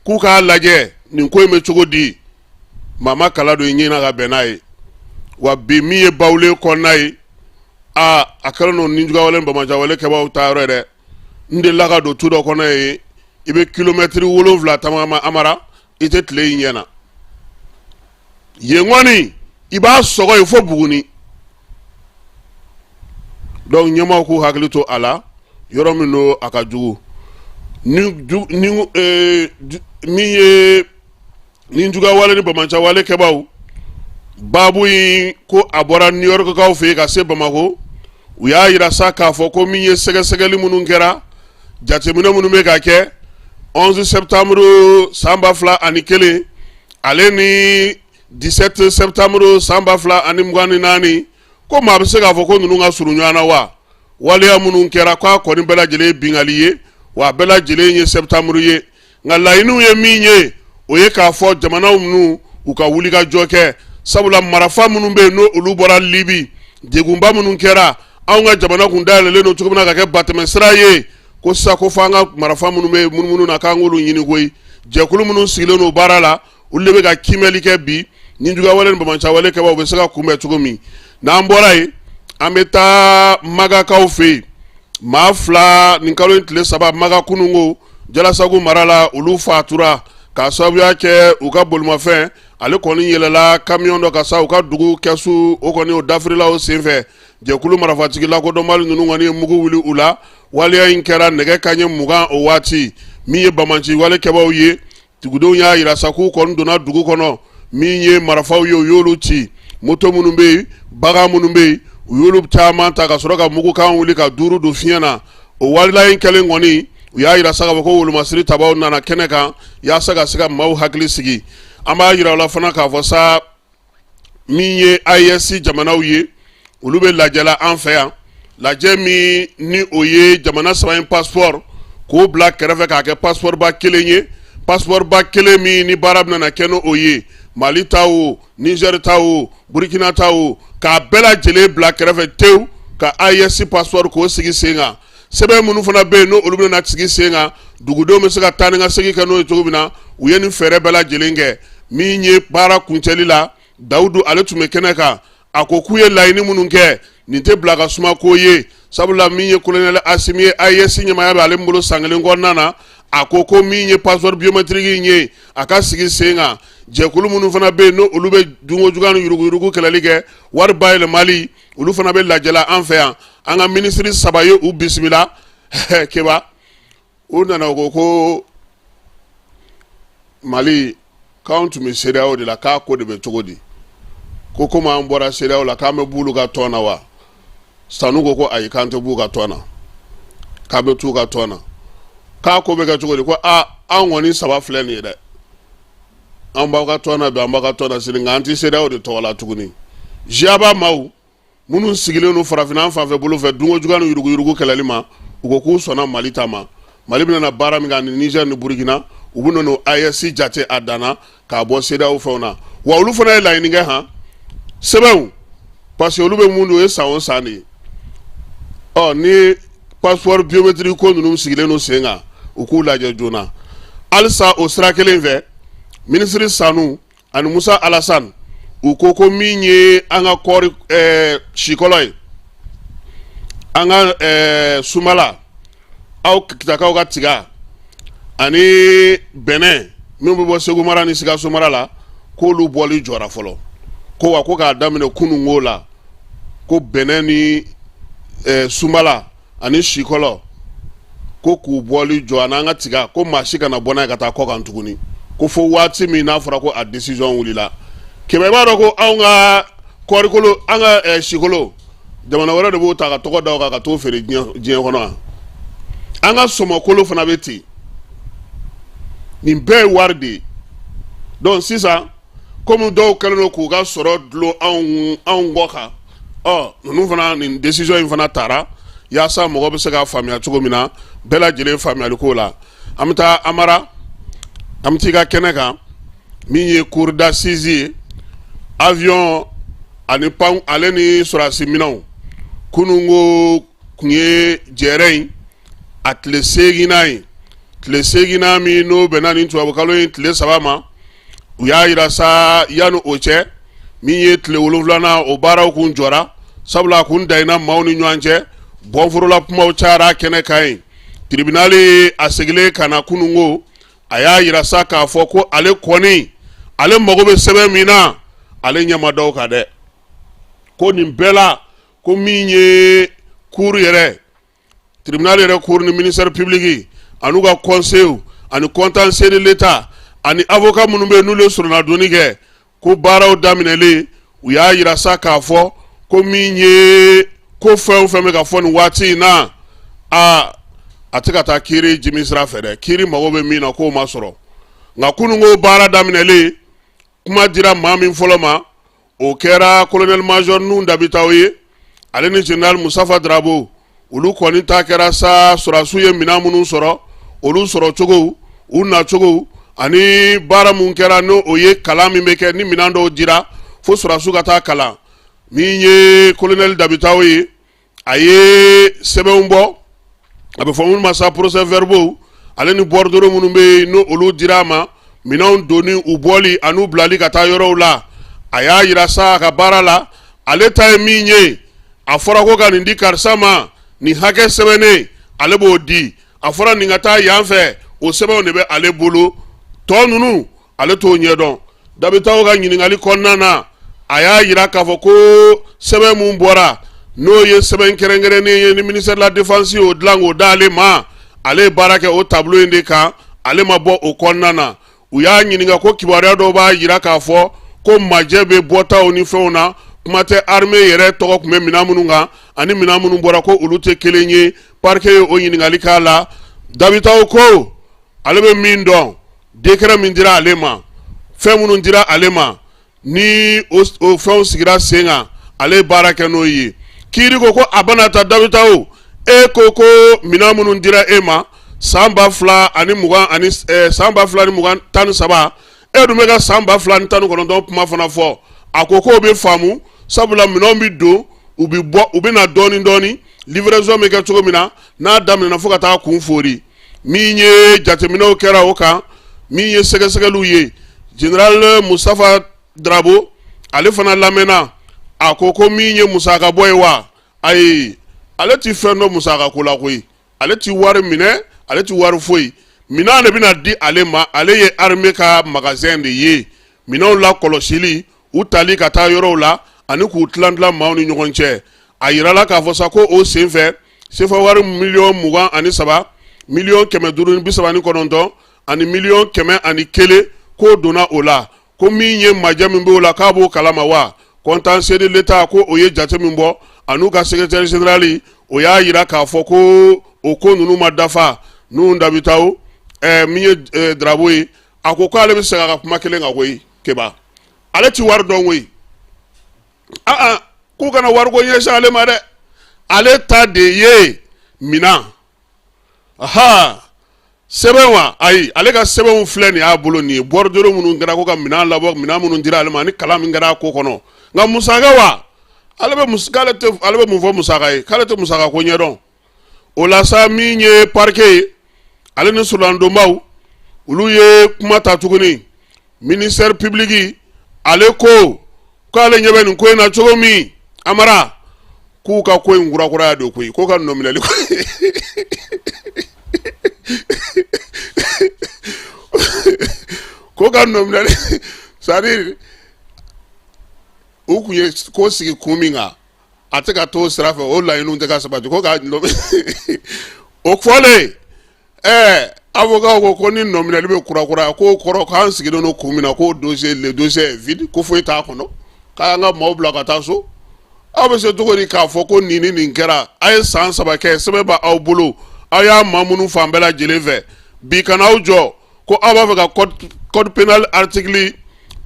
k'u k'a lajɛ nin ko in bɛ cogo di maa ma kala don i ɲɛ na ka bɛn n'a ye wa bi min ye bawule kɔnɔna ye aa a kɛlen don nijuguyawale banbaanciyawale kɛbaaw ta yɔrɔ ye dɛ n delila ka don tu dɔ kɔnɔ yen i bɛ kilomɛtiri wolonwula tagama amara i tɛ tile y'i ɲɛ na yen kɔni i b'a sɔgɔ yen fo buguni donc ɲɛmaaw k'u hakili to a la yɔrɔ min don a ka jugu ni ju ni ee min ye nijuguya wale ni banbaanciya wale kɛbaaw baabu in ko a bɔra new york kaw fɛ yen ka se bamakɔ u y'a yira sa k'a fɔ ko min ye sɛgɛsɛgɛli minnu kɛra jateminɛ minnu bɛ ka kɛ 11 septembre san ba fila ani kelen ale ni 17 septembre san ba fila ani mugan ni naani ko maa bɛ se k'a fɔ ko ninnu ka surun ɲɔgɔn na wa waleya minnu kɛra k'a kɔni bɛɛ lajɛlen ye binkali ye wa a bɛɛ lajɛlen ye septembre ye nka laɲiniw ye min ye o ye k'a fɔ jamanaw minnu u ka wulikajɔ kɛ sabula marafa minnu bɛ yen n'olu bɔra libi degunba minnu kɛra anw ka jamana kun dayɛlɛlen don cogo min na ka kɛ batɛmɛsira ye ko sisan ko fo an ka marafa minnu bɛ yen munumunu na k'an k'olu ɲini koyi jɛkulu minnu sigilen don baara la olu de bɛ ka kimɛli kɛ bi nijuguyawale ni banbaanciyawale kɛbaaw bɛ se ka kunbɛn cogo min n'an bɔra yen an bɛ taa magakaw fɛ yen maa fila nin kalo in tile saba maga kununko jalasagu mara la olu fatura k'a sababuya kɛ u ka bolimafɛn ale kɔni yɛlɛla kamiyɔn dɔ kan sa u ka dugu kɛsu o kɔni o dafirila o senfɛ jɛkulu marafatigi lakodɔnbali ninnu kɔni ye mugu wuli u la waleya in kɛra nɛgɛ kanɲɛ mugan o waati min ye banbaanci wale kɛbaaw ye Dugudenw y'a yira sa k'u kɔni donna dugu kɔnɔ min ye marifaw ye u y'olu ci moto minnu bɛ yen bagan minnu bɛ yen u y'olu caman ta ka sɔrɔ ka mugukan wuli ka duuru don fiɲɛ na o waleya in kɛlen kɔni u y'a yira sa k'a fɔ ko wolomasiri tabaw nana kɛnɛ kan yaasa ka se ka maaw hakili sigi an b'a yira aw la fana k'a fɔ sa min ye AES jamanaw ye olu bɛ lajɛla an fɛ yan lajɛ min ni o ye jamana saba in passeport k'o bila kɛrɛfɛ k'a kɛ passeport ba kelen ye passeport ba kelen min ni baara bɛna kɛ n'o ye mali ta o nizɛri ta o burukina ta o k'a bɛɛ lajɛlen bila kɛrɛfɛ tewu ka AES passeport k'o sigi sen kan sɛbɛn minnu fana bɛ yen n' olu bɛna sigi sen kan dugudenw bɛ se ka taa ni ka segin kɛ n'o ye cogo min na u ye nin fɛɛrɛ bɛɛ lajɛlen kɛ min ye baara kuncɛli la dawudu ale tun bɛ kɛnɛ kan a ko k'u ye laɲini minnu kɛ nin tɛ bila ka suma ko ye sabula min ye kolonɛli asimi ye AES ɲɛmaaya bɛ ale bolo san kelen kɔnɔna na a ko ko min ye passeport biométrique in ye a ka sigi sen kan jɛkulu minnu fana bɛ yen n' olu bɛ dunko juguya ni yuruguyurugu kɛlɛli kɛ wari bayɛlɛmali olu fana bɛ lajɛla an fɛ yan an ka minisiri saba ye u bisimila keba u nana ko ko mali k'an tun bɛ CEDEAO de la k'a ko de bɛ cogo di ko komi an bɔra CEDEAO la k'an bɛ b'olu ka tɔn na wa sanu ko ko ayi k'an tɛ b'u ka tɔn na k'an bɛ t'u ka tɔn na k'a ko bɛ kɛ cogo di ko aa an kɔni saba filɛ nin ye dɛ an b'aw ka tɔn na bi an b'aw ka tɔn na sini nka an tɛ CEDEAO de tɔgɔ la tuguni GIABA maaw minnu sigilen don farafinna an fan fɛ bolo fɛ dunko juguya ni yuruguyurugu kɛlɛli ma u ko k'u sɔnna mali ta ma mali bɛna baara min kɛ ani nizɛri ni burukina u bɛn'o AES jate a danna k'a bɔ CEDEAO fɛnw na wa olu fana ye laɲini kɛ han sɛbɛnw parce que olu bɛ mun don o ye san o san de ye ɔ ni passeport biométrique ko ninnu sigilen don sen kan u k'u lajɛ joona halisa o sira kelen fɛ minisiri sanu ani musa alasan u ko ko min ye an ka kɔɔri eh, sikɔlɔ ye an ka eh, sumala aw kitakaw ka tiga ani bɛnɛ min bɛ bɔ segu mara ni sikaso mara la k'olu bɔli jɔra fɔlɔ ko wa ko k'a daminɛ kununko la ko bɛnɛ ni eh, sunbala ani sikɔlɔ ko k'u bɔli jɔ ani an ka tiga ko maa si kana bɔ n'a ye ka taa kɔkan tuguni ko fo waati min n'a fɔra ko a décision wulila keba b'a dɔn ko anw ka kɔɔrikolo an ka eh, sikolo jamana wɛrɛ de b'o ta k'a tɔgɔ da o kan ka t'o feere diɲɛ diɲɛ kɔnɔ yan an ka sɔmɔkolo fana bɛ ten nin bɛɛ ye wari de ye donc sisan komi dɔw kɛlen don k'u ka sɔrɔ dulon anw anw kɔ kan ɔ ninnu fana nin décision in fana taara yaasa mɔgɔ bɛ se k'a faamuya cogo min na bɛɛ lajɛlen faamuyali ko la an bɛ taa amara an bɛ taa i ka kɛnɛ kan min ye cour d'assises ye avion ani pan ale ni sɔrɔdasi minɛnw kununko kun ye jɛrɛ in a tile seeginnan ye tile seeginnan min n'o bɛnna nin tubabukalo in tile saba ma u y'a yira sa yanni o cɛ min ye tile wolonwulanan o baaraw kun jɔra sabula kun dayina maaw ni ɲɔgɔn cɛ bon voilà kumaw cayara kɛnɛ kan yen tribunal in a seginnen ka na kununko a y'a yira sa k'a fɔ ko ale kɔni ale mago bɛ sɛbɛn min na ale ɲɛ ma da u kan dɛ ko nin bɛɛ la ko min ye cour yɛrɛ tribunal yɛrɛ cour ni ministère public an'u ka conseils ani contentieux de l'Etat ani avocat minnu bɛ yen n'olu ye sɔrɔnadonni kɛ ko baaraw daminɛlen u y'a yira sa k'a fɔ ko min ye ko fɛn o fɛn bɛ ka fɔ nin waati in na aa a tɛ ka taa kiiri jimi sira fɛ dɛ kiiri mago bɛ min na k'o ma sɔrɔ nka kununko baara daminɛlen kuma dira maa min fɔlɔ ma o kɛra kolonɛli mazɔri nuhu dabitaw ye ale ni jenerali mustafa darabo olu kɔni ta kɛra sa sɔrasiw ye minɛn minnu sɔrɔ olu sɔrɔcogo u nacogo ani baara min kɛra n'o ye kalan min bɛ kɛ ni minɛn dɔw dira fo sɔrasiw ka taa kalan min ye kolonɛli dabitaw ye a ye sɛbɛnw bɔ a bɛ fɔ minnu ma sa procès verbaux ale ni bordereaux minnu bɛ yen n'o olu dira a ma minɛnw donni u bɔli an'u bilali ka taa yɔrɔw la a y'a yira sa a ka baara la ale ta ye min ye a fɔra ko ka nin di karisa ma nin hakɛ sɛbɛnnen ale b'o di a fɔra nin ka taa yan fɛ o sɛbɛnw de bɛ ale bolo tɔ ninnu ale t'o ɲɛ dɔn dabitaw ka ɲininkali kɔnɔna na a y'a yira k'a fɔ ko sɛbɛn min bɔra n'o ye sɛbɛn kɛrɛnkɛrɛnnen ye ni ministère de la défense y'o dilan k'o d'ale ma ale ye baara kɛ o tableau in de kan ale ma bɔ o kɔnɔna na u y'a ɲininka ko kibaruya dɔw b'a yira k'a fɔ ko majɛ bɛ bɔtaw ni fɛnw na kuma tɛ armée yɛrɛ tɔgɔ tun bɛ minɛn minnu kan ani minɛn minnu bɔra ko olu tɛ kelen ye parquet ye o ɲininkali k'a la dabitaw ko ale bɛ min dɔn décret min dira ale ma fɛn minnu dira ale ma ni o fɛnw sigira sen kan ale baara kɛ n'o ye kiiri ko ko a bɛna ta dabitaw e ko ko minɛn minnu dira e ma san ba fila ani mugan ani eh, san ba fila ni mugan tan ni saba e dun bɛ ka san ba fila ni tan ni kɔnɔntɔn kuma fana fɔ a ko k'o bɛ faamu sabula minɛnw bɛ don u bɛ bɔ u bɛ na dɔɔnin dɔɔnin livraison bɛ kɛ cogo min na n'a daminɛna fo ka taa kun foori min ye jateminɛw kɛra o kan min ye sɛgɛsɛgɛliw ye jenerali mustafa darabo ale fana lamɛnna a ko ko min ye musaka bɔ ye wa ayi ale ti fɛn dɔn musaka ko la koyi ale ti wari minɛ ale ti wari foyi minɛn de bɛna di ale ma ale ye armée ka magasin de ye minɛnw la kɔlɔsili u tali ka taa yɔrɔw la ani k'u tilan tilan maaw ni ɲɔgɔn cɛ a yirala k'a fɔ sa ko o senfɛ sefa wari miliyɔn mugan ani saba miliyɔn kɛmɛ duuru ni bi saba ni kɔnɔntɔn ani miliyɔn kɛmɛ ani kelen k'o donna o la ko min ye majɛ min b'o la k'a b'o kalama wa contentieux de l'Etat ko o ye jate min bɔ an'u ka secrétaire général o y'a yira k'a fɔ ko o ko ninnu ma dafa nuhu dabitaw eh, min ye eh, drabo ye a ko k'ale bɛ segin a ka kuma kelen kan koyi keba ale ti wari dɔn koyi aa k'u kana wariko ɲɛsin ale ma dɛ ale ta de ye minan aha sɛbɛn wa ayi ale ka sɛbɛnw filɛ nin y'a bolo nin ye bordereau minnu kɛra ko ka minan labɔ minan minnu dira ale ma ani kalan min kɛra a ko kɔnɔ nka musaka wa ale bɛ mun fɔ musaka ye k'ale tɛ musaka ko ɲɛdɔn o la sa min ye parquet ye ale ni soronadonbaw olu ye kuma ta tuguni ministère public ale ko k' ale ɲɛ bɛ nin ko in na cogo min Amara k'u ka ko in kurakuraya don koyi ko ka nɔminɛli ko ka nɔminɛli c'est-à-dire u kun ye ko sigi kun min kan a tɛ ka t'o sira fɛ o laɲini tɛ ka sabati ko ka o fɔlen ɛɛ avokaw ko ko ni nɔminɛli bɛ kurakuraya k'o kɔrɔ k'an sigilen don kun min na ko dossier le dossier est vide ko foyi t'a kɔnɔ k'an ka maaw bila ka taa so aw bɛ se cogo di k'a fɔ ko nin ni nin kɛra a ye san saba kɛ sɛbɛn bɛ aw bolo aw y'a mamunu fan bɛɛ lajɛlen fɛ bi kana aw jɔ ko aw b'a fɛ ka code pénal article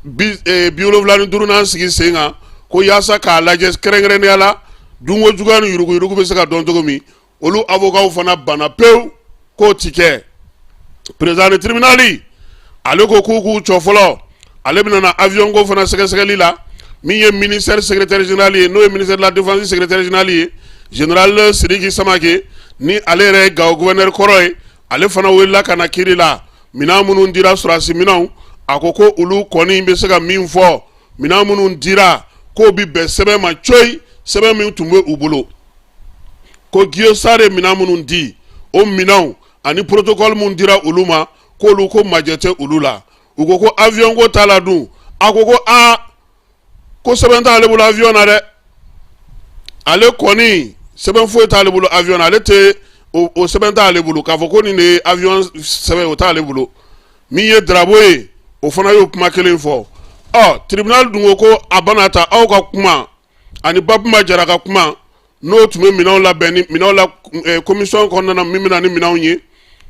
biwolonwula ni duurunan sigi sen kan ko yaasa k'a lajɛ kɛrɛnkɛrɛnnenya la dunko juguya ni yuruguyurugu bɛ se ka dɔn cogo min olu avokaw fana banna pewu k'o ti kɛ président du tribunal ale ko k'u k'u jɔ fɔlɔ ale bɛna na avion ko fana sɛgɛsɛgɛli la min ye ministère secrétaire général ye n'o ye ministère de la défense secrétaire général ye général sidiki samake ni ale yɛrɛ ye gawo gouverneur kɔrɔ ye ale fana wulila ka na kiri la minɛn minnu dira sɔrɔdasi minɛnw a ko ko olu kɔni bɛ se ka min fɔ minɛn minnu dira k'o bɛ bɛn sɛbɛn ma coyi sɛbɛn min tun bɛ u bolo ko Guo Star ye minɛn minnu di o minɛnw ani protocole min dira olu ma k'olu ko majɛ tɛ olu la u ko ko avion ko t'a la dun a ko ko aa ko sɛbɛn t'ale bolo avion na dɛ ale kɔni sɛbɛn foyi t'ale bolo avion na ale tɛ o o sɛbɛn t'ale bolo k'a fɔ ko nin de ye avion sɛbɛn o t'ale bolo min ye Drabo ye o fana y'o kuma kelen fɔ ɔ tribunal dun ko ko a bana ta aw ka kuma ani Babuma Jara ka kuma n'o tun bɛ minɛnw labɛnni minɛnw la eh, commission kɔnɔna na min bɛ na ni minɛnw ye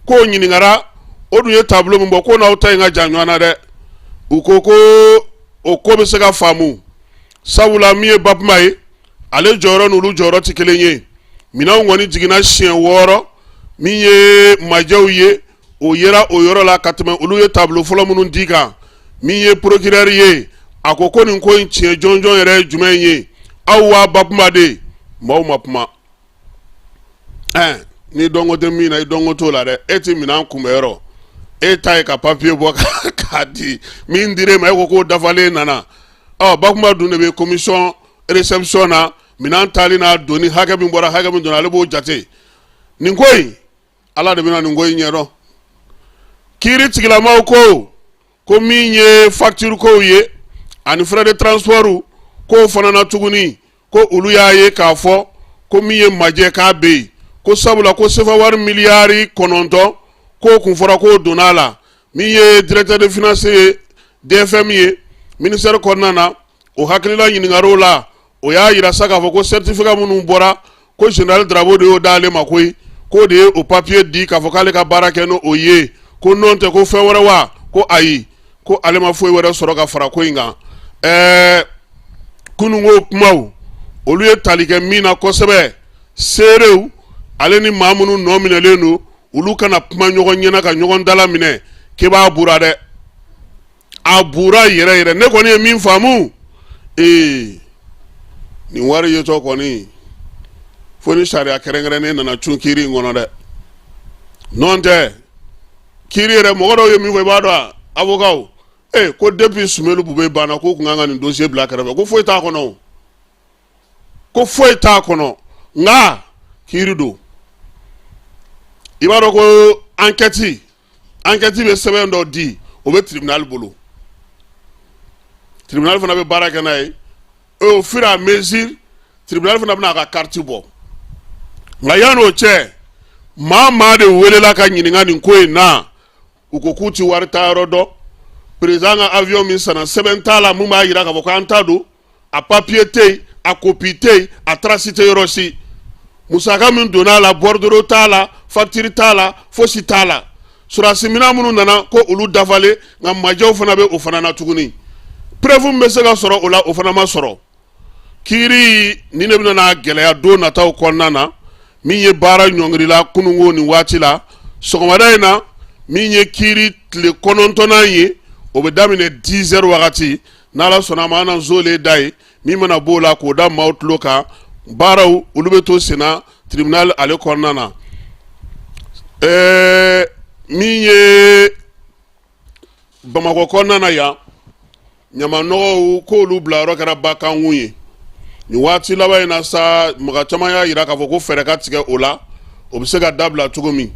k'o ɲininkara o dun ye tableau min bɔ k'o n'aw ta in ka jan ɲɔgɔn na dɛ u ko ko o ko bɛ se ka faamu sabula min ye Babuma ye ale jɔyɔrɔ n'olu jɔyɔrɔ tɛ kelen ye minɛnw kɔni jiginna siɲɛ wɔɔrɔ min ye majɛw ye o yera o yɔrɔ la ka tɛmɛ olu ye tableau fɔlɔ minnu di kan min ye porokirɛri ye a ko ko nin ko in tiɲɛ jɔnjɔn yɛrɛ ye jumɛn ye aw wa bakuma de maaw ma kuma ɛɛ ni dɔnko tɛ min na i dɔnko t'o la dɛ e tɛ minɛn kunbɛyɔrɔ e ta ye ka papiye bɔ k'a di min dir'e ma e ko k'o dafalen nana ɔ bakuma dun de bɛ komisɔn reception na minɛn taali n'a donni hakɛ min bɔra hakɛ min donna ale b'o jate nin ko in ala de bɛna nin ko in ɲɛdɔn kiiri tigilamaw ko ko min ye facture kow ye ani frais de transport k'o fana na tuguni ko olu y'a ye k'a fɔ ko min ye majɛ k'a bɛ yen ko sabula ko sefa wari miliyari kɔnɔntɔn k'o kun fɔra k'o donna a la min ye directeur de finance ye dfm ye ministère kɔnɔna na o hakilila ɲininkaliw la o y'a jira sa k'a fɔ ko sɛtifika minnu bɔra ko général darabo de y'o d'ale ma koyi k'o de ye o papiye di k'a fɔ k'ale ka baara kɛ n' o ye ko nɔn tɛ ko fɛn wɛrɛ wa ko ayi ko ale ma foyi wɛrɛ sɔrɔ ka fara ko in kan ɛɛ kununko kumaw olu ye tali kɛ min na kosɛbɛ seerew ale ni maa minnu nɔ minɛlen don olu ka na kuma ɲɔgɔn ɲɛna ka ɲɔgɔn dala minɛ k'e b'a bura dɛ a bura yɛrɛ yɛrɛ ne kɔni ye min faamu ee nin wari yetɔ kɔni fo ni sariya kɛrɛnkɛrɛnnen nana cun kiiri in kɔnɔ dɛ nɔn tɛ kiiri yɛrɛ mɔgɔ dɔw ye min fɔ i b'a dɔn a avokaw ee ko depuis sumelu bube banna k'u kun kan ka nin dossier bila kɛrɛfɛ ko foyi t'a kɔnɔ o ko foyi t'a kɔnɔ nka kiiri don i b'a dɔn ko ankɛti ankɛti bɛ sɛbɛn dɔ di o bɛ tiribinali bolo tiribinali fana bɛ baara kɛ n'a ye au fur à mesure tiribinali fana bɛna a ka kariti bɔ nka yanni o cɛ maa maa de welela ka ɲininka nin ko in na u ko k'u ti wari taayɔrɔ dɔn perezidan ka avion min sanna sɛbɛn t'a la mun b'a jira k'a fɔ k'an ta don a papiye tɛ yen a kopi tɛ yen a tarasi tɛ yɔrɔ si musaka min donna a la bɔridoro t'a la fakitiri t'a la fosi t'a la sɔrɔdasi minɛn minnu nana ko olu dafalen nka majɛw fana bɛ o fana na tuguni preuve min bɛ se ka sɔrɔ o la o fana ma sɔrɔ kiiri nin de bɛna na gɛlɛya don nataw kɔnɔna na min ye baara ɲɔngirila kununko nin waati la sɔgɔmada in na min ye kiiri tile kɔnɔntɔnnan ye o bɛ daminɛ 10 heures wagati n' ala sɔnna ma an zoolen da ye min mana b'o la k'o da maaw tulo kan baaraw olu bɛ to senna tribunal ale kɔnɔna na ɛɛ min ye bamakɔ kɔnɔna na yan ɲamanɔgɔw k'olu bila yɔrɔ kɛra bakankun ye nin waati laban in na sa mɔgɔ caman y'a jira k'a fɔ ko fɛɛrɛ ka tigɛ o la o bɛ se ka dabila cogo min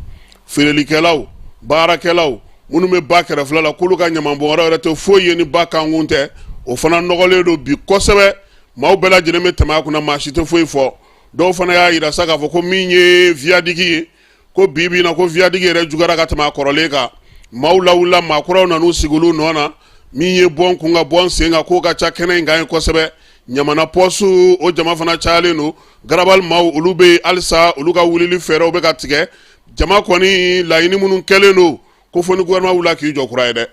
feerelikɛlaw baarakɛlaw minnu bɛ ba kɛrɛfɛ la k'olu ka ɲamanbɔnyɔrɔ yɛrɛ tɛ foyi ye ni ba kankun tɛ o fana nɔgɔlen don bi kosɛbɛ maaw bɛɛ lajɛlen bɛ tɛmɛ a kunna maa si tɛ foyi fɔ dɔw fana y'a jira sa k'a fɔ ko min ye vyadigi ye ko bi bi in na ko vyadigi yɛrɛ juguyara ka tɛmɛ a kɔrɔlen kan maaw lawulila maakɔrɔw nan'u sigi olu nɔ na min ye bɔn kun ka bɔn sen kan k'o ka ca kɛnɛ in kan ye kosɛbɛ Ɲamana pɔsu o jama fana cayalen don garabali maaw olu bɛ yen halisa olu ka wulili fɛɛrɛw bɛ ka tigɛ jama kɔni laɲini minnu kɛlen don ko fo ni gouvernement wulila k'i jɔ kura ye dɛ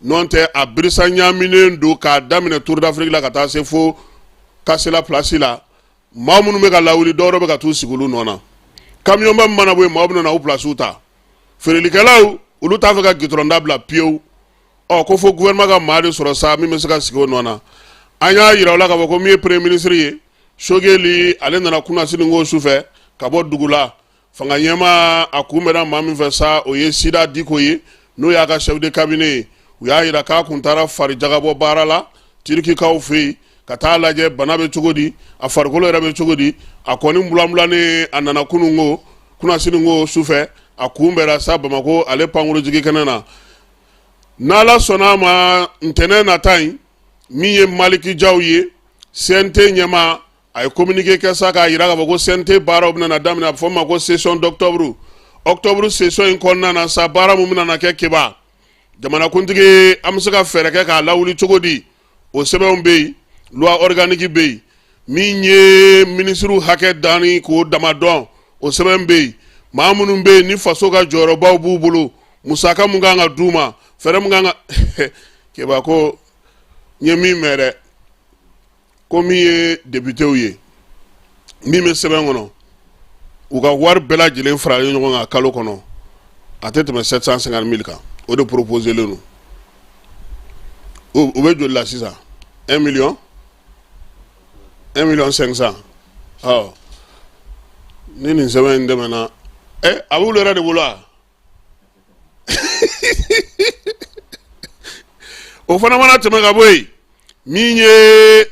n'o tɛ a birisa ɲaaminen don k'a daminɛ Tour d'Afrique la ka taa se fo Kasela place la maa minnu bɛ ka lawuli dɔw wɛrɛ bɛ ka t'u sigi olu nɔ na kamiyɔnba min mana bɔ yen maaw bɛ na u placew ta feerelikɛlaw olu t'a fɛ ka gitɔrɔn dabila pewu ɔ ko fo gouvernement ka maa de sɔrɔ sa min bɛ se ka sigi o nɔ na an y'a jira u la k'a fɔ ko min ye premier ministre ye Sogeli ale nana kunasininko sufɛ ka bɔ dugu la fanga ɲɛmaa a kunbɛnna maa min fɛ sa o ye Sida Diko ye n'o y'a ka chef de cabinet ye u y'a jira k'a kun taara farijagabɔ baara la Turikikaw fɛ yen ka taa lajɛ bana bɛ cogo di a farikolo yɛrɛ bɛ cogo di a kɔni bulanbulanen a nana kununko kunasininko sufɛ a kunbɛra sa Bamakɔ ale pankurunjigikɛnɛ na n'ala sɔnna a ma ntɛnɛn nata in min ye Maliki Jaw ye CNT ɲɛmaa a ye communiqué kɛ sa k'a jira k'a fɔ ko CNT baaraw bɛna daminɛ a bɛ fɔ min ma ko session d'octobre octobre session in kɔnɔna na sa baara mun bɛna kɛ Keba jamanakuntigi an bɛ se ka fɛɛrɛ kɛ k'a lawuli cogo di o sɛbɛnw bɛ yen loi organique bɛ yen min ye minisiriw hakɛ danni k'o dama dɔn o sɛbɛn bɛ yen maa minnu bɛ yen ni faso ka jɔyɔrɔbaw b'u bolo musaka mun kan ka d'u ma fɛɛrɛ mun kan ka keba ko n ye min mɛn dɛ ko min ye députéw ye min bɛ sɛbɛn kɔnɔ u ka wari bɛɛ lajɛlen faralen ɲɔgɔn kan kalo kɔnɔ a tɛ tɛmɛ 750 mille kan o de proposélen don u bɛ joli la sisan 1 million 1 million 500 ni nin sɛbɛn in tɛmɛna ɛ a b'olu yɛrɛ de bolo o fana mana tɛmɛ ka bɔ yen min ye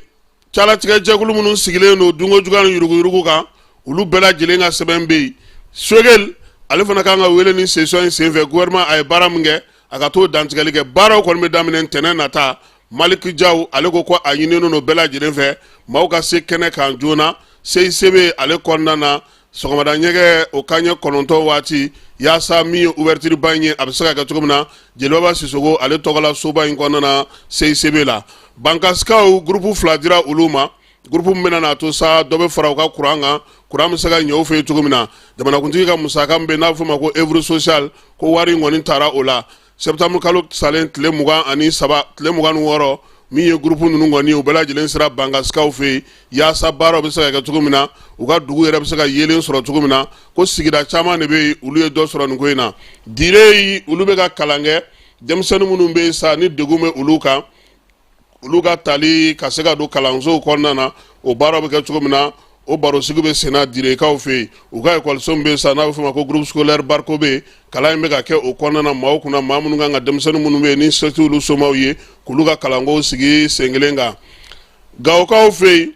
calatigɛjɛkulu minnu sigilen don dunko juguya ni yuruguyurugu kan olu bɛɛ lajɛlen ka sɛbɛn bɛ yen Sogɛli ale fana kan ka wele ni session in senfɛ gouvernement a ye baara min kɛ a ka t'o dantigɛli kɛ baaraw kɔni bɛ daminɛ ntɛnɛn nata maliki jaw ale ko ko a ɲininen don bɛɛ lajɛlen fɛ maaw ka se kɛnɛ kan joona cicb ale kɔnɔna na sɔgɔmada ɲɛgɛ o kanɲɛ kɔnɔntɔn waati yaasa min ye ouverture ba in ye a bɛ se ka kɛ cogo min na jeli baba sisɔkɔ ale tɔgɔla soba in kɔnɔna na cicb la bankasikaw gurupu fila dira olu ma gurupu min bɛna n'a to sa dɔ bɛ fara u ka kuran kan kuran bɛ se ka ɲɛ u fɛ yen cogo min na jamanakuntigi ka musaka min bɛ n'a bɛ fɔ ma ko œuvre sociale ko wari in kɔni taara o la Sɛtanburu kalo salen tile mugan ani saba tile mugan ni wɔɔrɔ min ye gurupu ninnu kɔni u bɛɛ lajɛlen sera bankasikaw fɛ yen yaasa baaraw bɛ se ka kɛ cogo min na u ka dugu yɛrɛ bɛ se ka yeelen sɔrɔ cogo min na ko sigida caman de bɛ yen olu ye dɔ sɔrɔ nin ko in na dire olu bɛ ka kalan kɛ denmisɛnnin minnu bɛ yen sa ni degun bɛ olu kan olu ka tali ka se ka don kalansow kɔnɔna na o baaraw bɛ kɛ cogo min na o barosigi bɛ senna direkaw fɛ yen u ka ekɔliso min bɛ sa n'a bɛ fɔ ma ko groupe scolaire barko bɛ yen kalan in bɛ ka kɛ o kɔnɔna na maaw kunna maa minnu kan ka denmisɛnnin minnu bɛ yen ni se t'olu somaw ye k'olu ka kalankow sigi sen kelen kan gawokaw fɛ yen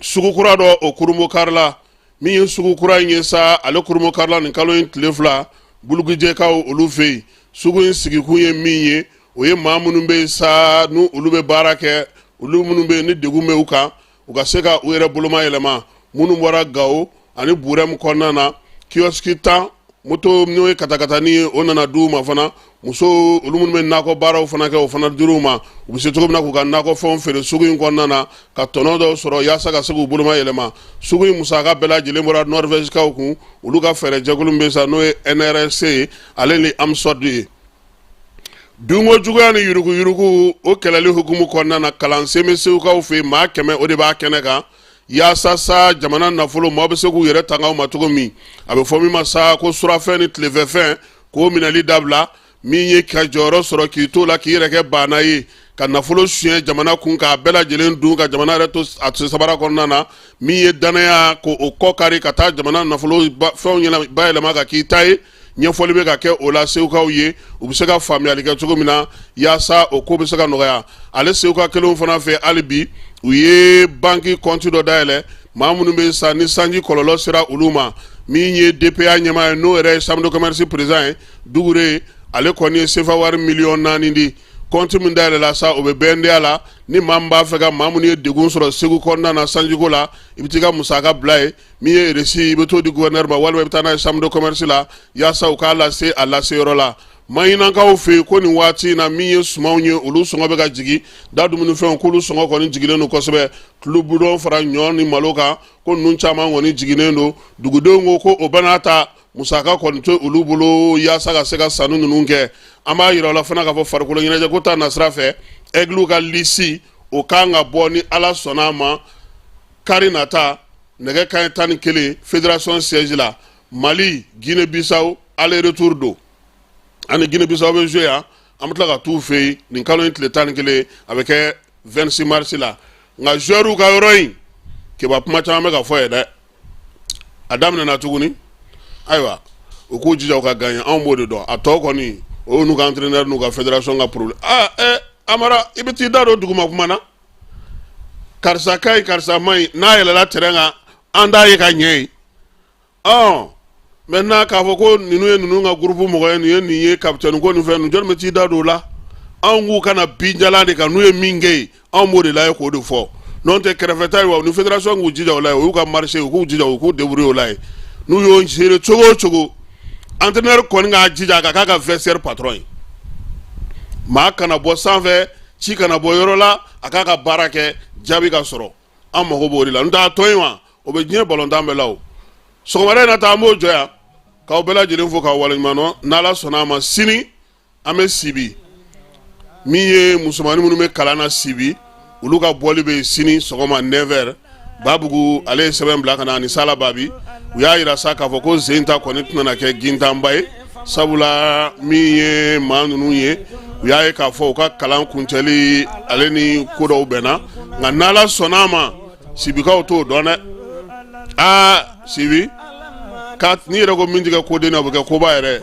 sugu kura dɔ o kurunbonkarila min ye sugu kura in ye sa ale kurunbonkarila nin kalo in tile fila bulugujɛkaw olu fɛ yen sugu in sigikun ye min ye o ye maa minnu bɛ yen sa ni olu bɛ baara kɛ olu minnu bɛ yen ni degun bɛ u kan u ka se ka u yɛrɛ boloma yɛlɛma minnu bɔra gawo ani burɛmu kɔnɔna na kiyɔsiki tan moto n'o ye katakatanin ye o nana di u ma fana muso olu minnu bɛ nakɔ baaraw fana kɛ o fana dir'u ma u bɛ se cogo min na k'u ka nakɔfɛnw feere sugu in kɔnɔna na ka tɔnɔ dɔw sɔrɔ yaasa ka se k'u boloma yɛlɛma sugu in musaka bɛɛ lajɛlen bɔra nɔrvɛsikaw kun olu ka fɛɛrɛ jɛkulu min bɛ sa n'o ye nrc ye ale ni amsɔd ye dunko juguya ni yuruguyurugu o kɛlɛli hukumu kɔnɔna na kalansen bɛ segukaw fɛ maa kɛmɛ o de b'a kɛnɛ kan Yaasa sa jamana nafolo maaw bɛ se k'u yɛrɛ tanga ma cogo min a bɛ fɔ min ma sa ko surafɛn ni tilefɛfɛn k'o minɛli dabila min ye ka jɔyɔrɔ sɔrɔ k'i to la k'i yɛrɛ kɛ baana ye ka nafolo suɲɛ jamana kun k'a bɛɛ lajɛlen dun ka jamana yɛrɛ to a sabara kɔnɔna na min ye dannaya ko o kɔ kari ka taa jamana nafolo fɛnw bayɛlɛma ka k'i ta ye ɲɛfɔli bɛ ka kɛ o la segukaw ye u bɛ se ka faamuyali kɛ cogo min na yaasa o ko bɛ se ka nɔgɔya ale seguka kelenw fana fɛ hali bi u ye banki kɔnti dɔ dayɛlɛ maa minnu bɛ sa ni sanji kɔlɔlɔ sera olu ma min ye dpa ɲɛmaa ye n'o yɛrɛ ye chambre de commerce président ye dukure ale kɔni ye sefa wari miliyɔn naani di kɔnti min dayɛlɛla sa o bɛ bnda la ni maa min b'a fɛ ka maa minnu ye degun sɔrɔ segu kɔnɔna na sanjiko la i bɛ t'i ka musaka bila yen min ye resi i bɛ t'o di guvɛnɛri ma walima i bɛ taa n'a ye chambre de commerce la yaasa u k'a lase a lase yɔrɔ la maɲinakaw fɛ yen ko nin waati in na min ye sumanw ye olu sɔngɔ bɛ ka jigin da dumunifɛnw k'olu sɔngɔ kɔni jiginnen don kosɛbɛ tulubidɔn fara ɲɔ ni malo kan ko ninnu caman kɔni jiginnen don dugudenw ko ko o bɛɛ n'a ta musaka kɔni t'olu bolo yaasa ka se ka sanni ninnu kɛ an b'a yira aw la fana k'a fɔ farikolo ɲɛnajɛko ta nasira fɛ ɛgiliw ka lisi o kan ka bɔ ni ala sɔnna a ma kari nata nɛgɛ kanɲɛ tan ni kelen fédération siège la mali guinée bissau aller retour don an ni guinée bissau bɛ jouer yan an bɛ tila ka t'u fɛ yen nin kalo in tile tan ni kelen a bɛ kɛ 26 mars la nka joueurs ka yɔrɔ in keba kuma caman bɛ ka fɔ yen dɛ a daminɛna tuguni ayiwa u k'u jija u ka gaɲɛ anw b'o de dɔn a tɔ kɔni o y'u n'u ka entraîneur n'u ka fédération ka problème aa ɛ amara i bɛ t'i da don duguma kuma na karisa ka ɲi karisa ma ɲi n'a yɛlɛla terrain kan an t'a ye ka ɲɛ ye ɔ maintenant k'a fɔ ko ninnu ye ninnu ka groupe mɔgɔ ye nin ye nin ye capitaine ko nin fɛn ninnu jɔni bɛ t'i da don o la anw k'u ka na binjalan de kan n'u ye min kɛ yen anw b'o de lajɛ k'o de fɔ n'o tɛ kɛrɛfɛta ye wa ni fédération k'u jija o la ye o y'u ka marché ye u k'u jija u k'u débrouiller o la ye n'u y'o gérer cogo o cogo entraîneur kɔni k'a jija a ka k'a ka vestiaire patron ye maa kana bɔ sanfɛ ci kana bɔ yɔrɔ la a k'a ka baara kɛ jaabi ka sɔrɔ an mago b'o de la n'o t'a tɔ in wa o bɛ diɲɛ balontan bɛɛ la o sɔgɔmada in na ta an b'o jɔ yan k'aw bɛɛ lajɛlen fo k'aw waleɲuman dɔn n'ala sɔnna a ma sini an bɛ sibi min ye musomannin minnu bɛ kalan na sibi olu ka bɔli bɛ sini sɔgɔma 9 heures babugu ale ye sɛbɛn bila ka na ani sala babi u y'a yira sa k'a fɔ ko sen in ta kɔni tɛna kɛ gintanba ye sabula min ye maa ninnu ye u y'a ye k'a fɔ u ka kalan kuncɛli ale ni ko dɔw bɛnna nka n'ala sɔnna a ma sibikaw t'o dɔn dɛ aa sibi n'i yɛrɛ ko min tɛ kɛ koden na o bɛ kɛ koba yɛrɛ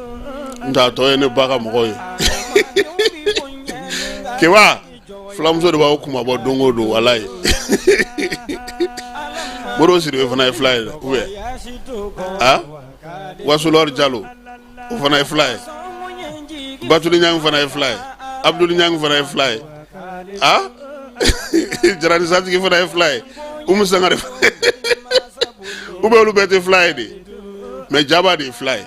N t'a tɔ ye ne ba ka mɔgɔw ye keba filamuso de b'aw kunmabɔ don o don walayi moro sidibe fana ye fila ye ou bien wasulor jalo o fana ye fila ye batuli ɲan fana ye fila ye abdul ɲan fana ye fila ye a jarani satigi fana ye fila ye umu sangare ou bien olu bɛɛ tɛ fila ye dɛ mais jabate ye fila ye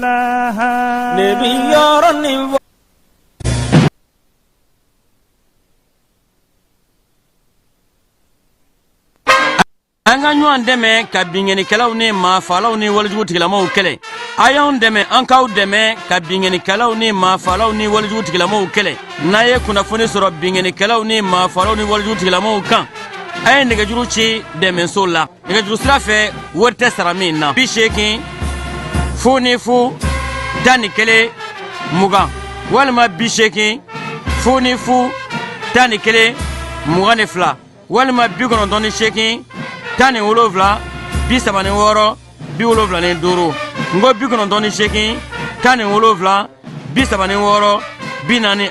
Nebi yɔrɔ ni wa an ka ɲɔgɔn dɛmɛ ka binkannikɛlaw ni maafalaw ni walijugutigilamaw kɛlɛ a y'anw dɛmɛ an k'aw dɛmɛ ka binkannikɛlaw ni maafalaw ni walijugutigilamaw kɛlɛ n'a ye kunnafoni sɔrɔ binkannikɛlaw ni maafalaw ni walijugutigilamaw kan a ye nɛgɛjuru ci dɛmɛso la nɛgɛjuru sira fɛ wari tɛ sara min na bi seegin fu ni fu tan ni kelen mugan walima bi seegin fu ni fu tan ni kelen mugan ni fila walima bi kɔnɔntɔn ni seegin tan ni wolonfila bi saba ni wɔɔrɔ bi wolonfila ni duuru nko bi kɔnɔntɔn ni seegin tan ni wolonfila bi saba ni wɔɔrɔ bi naani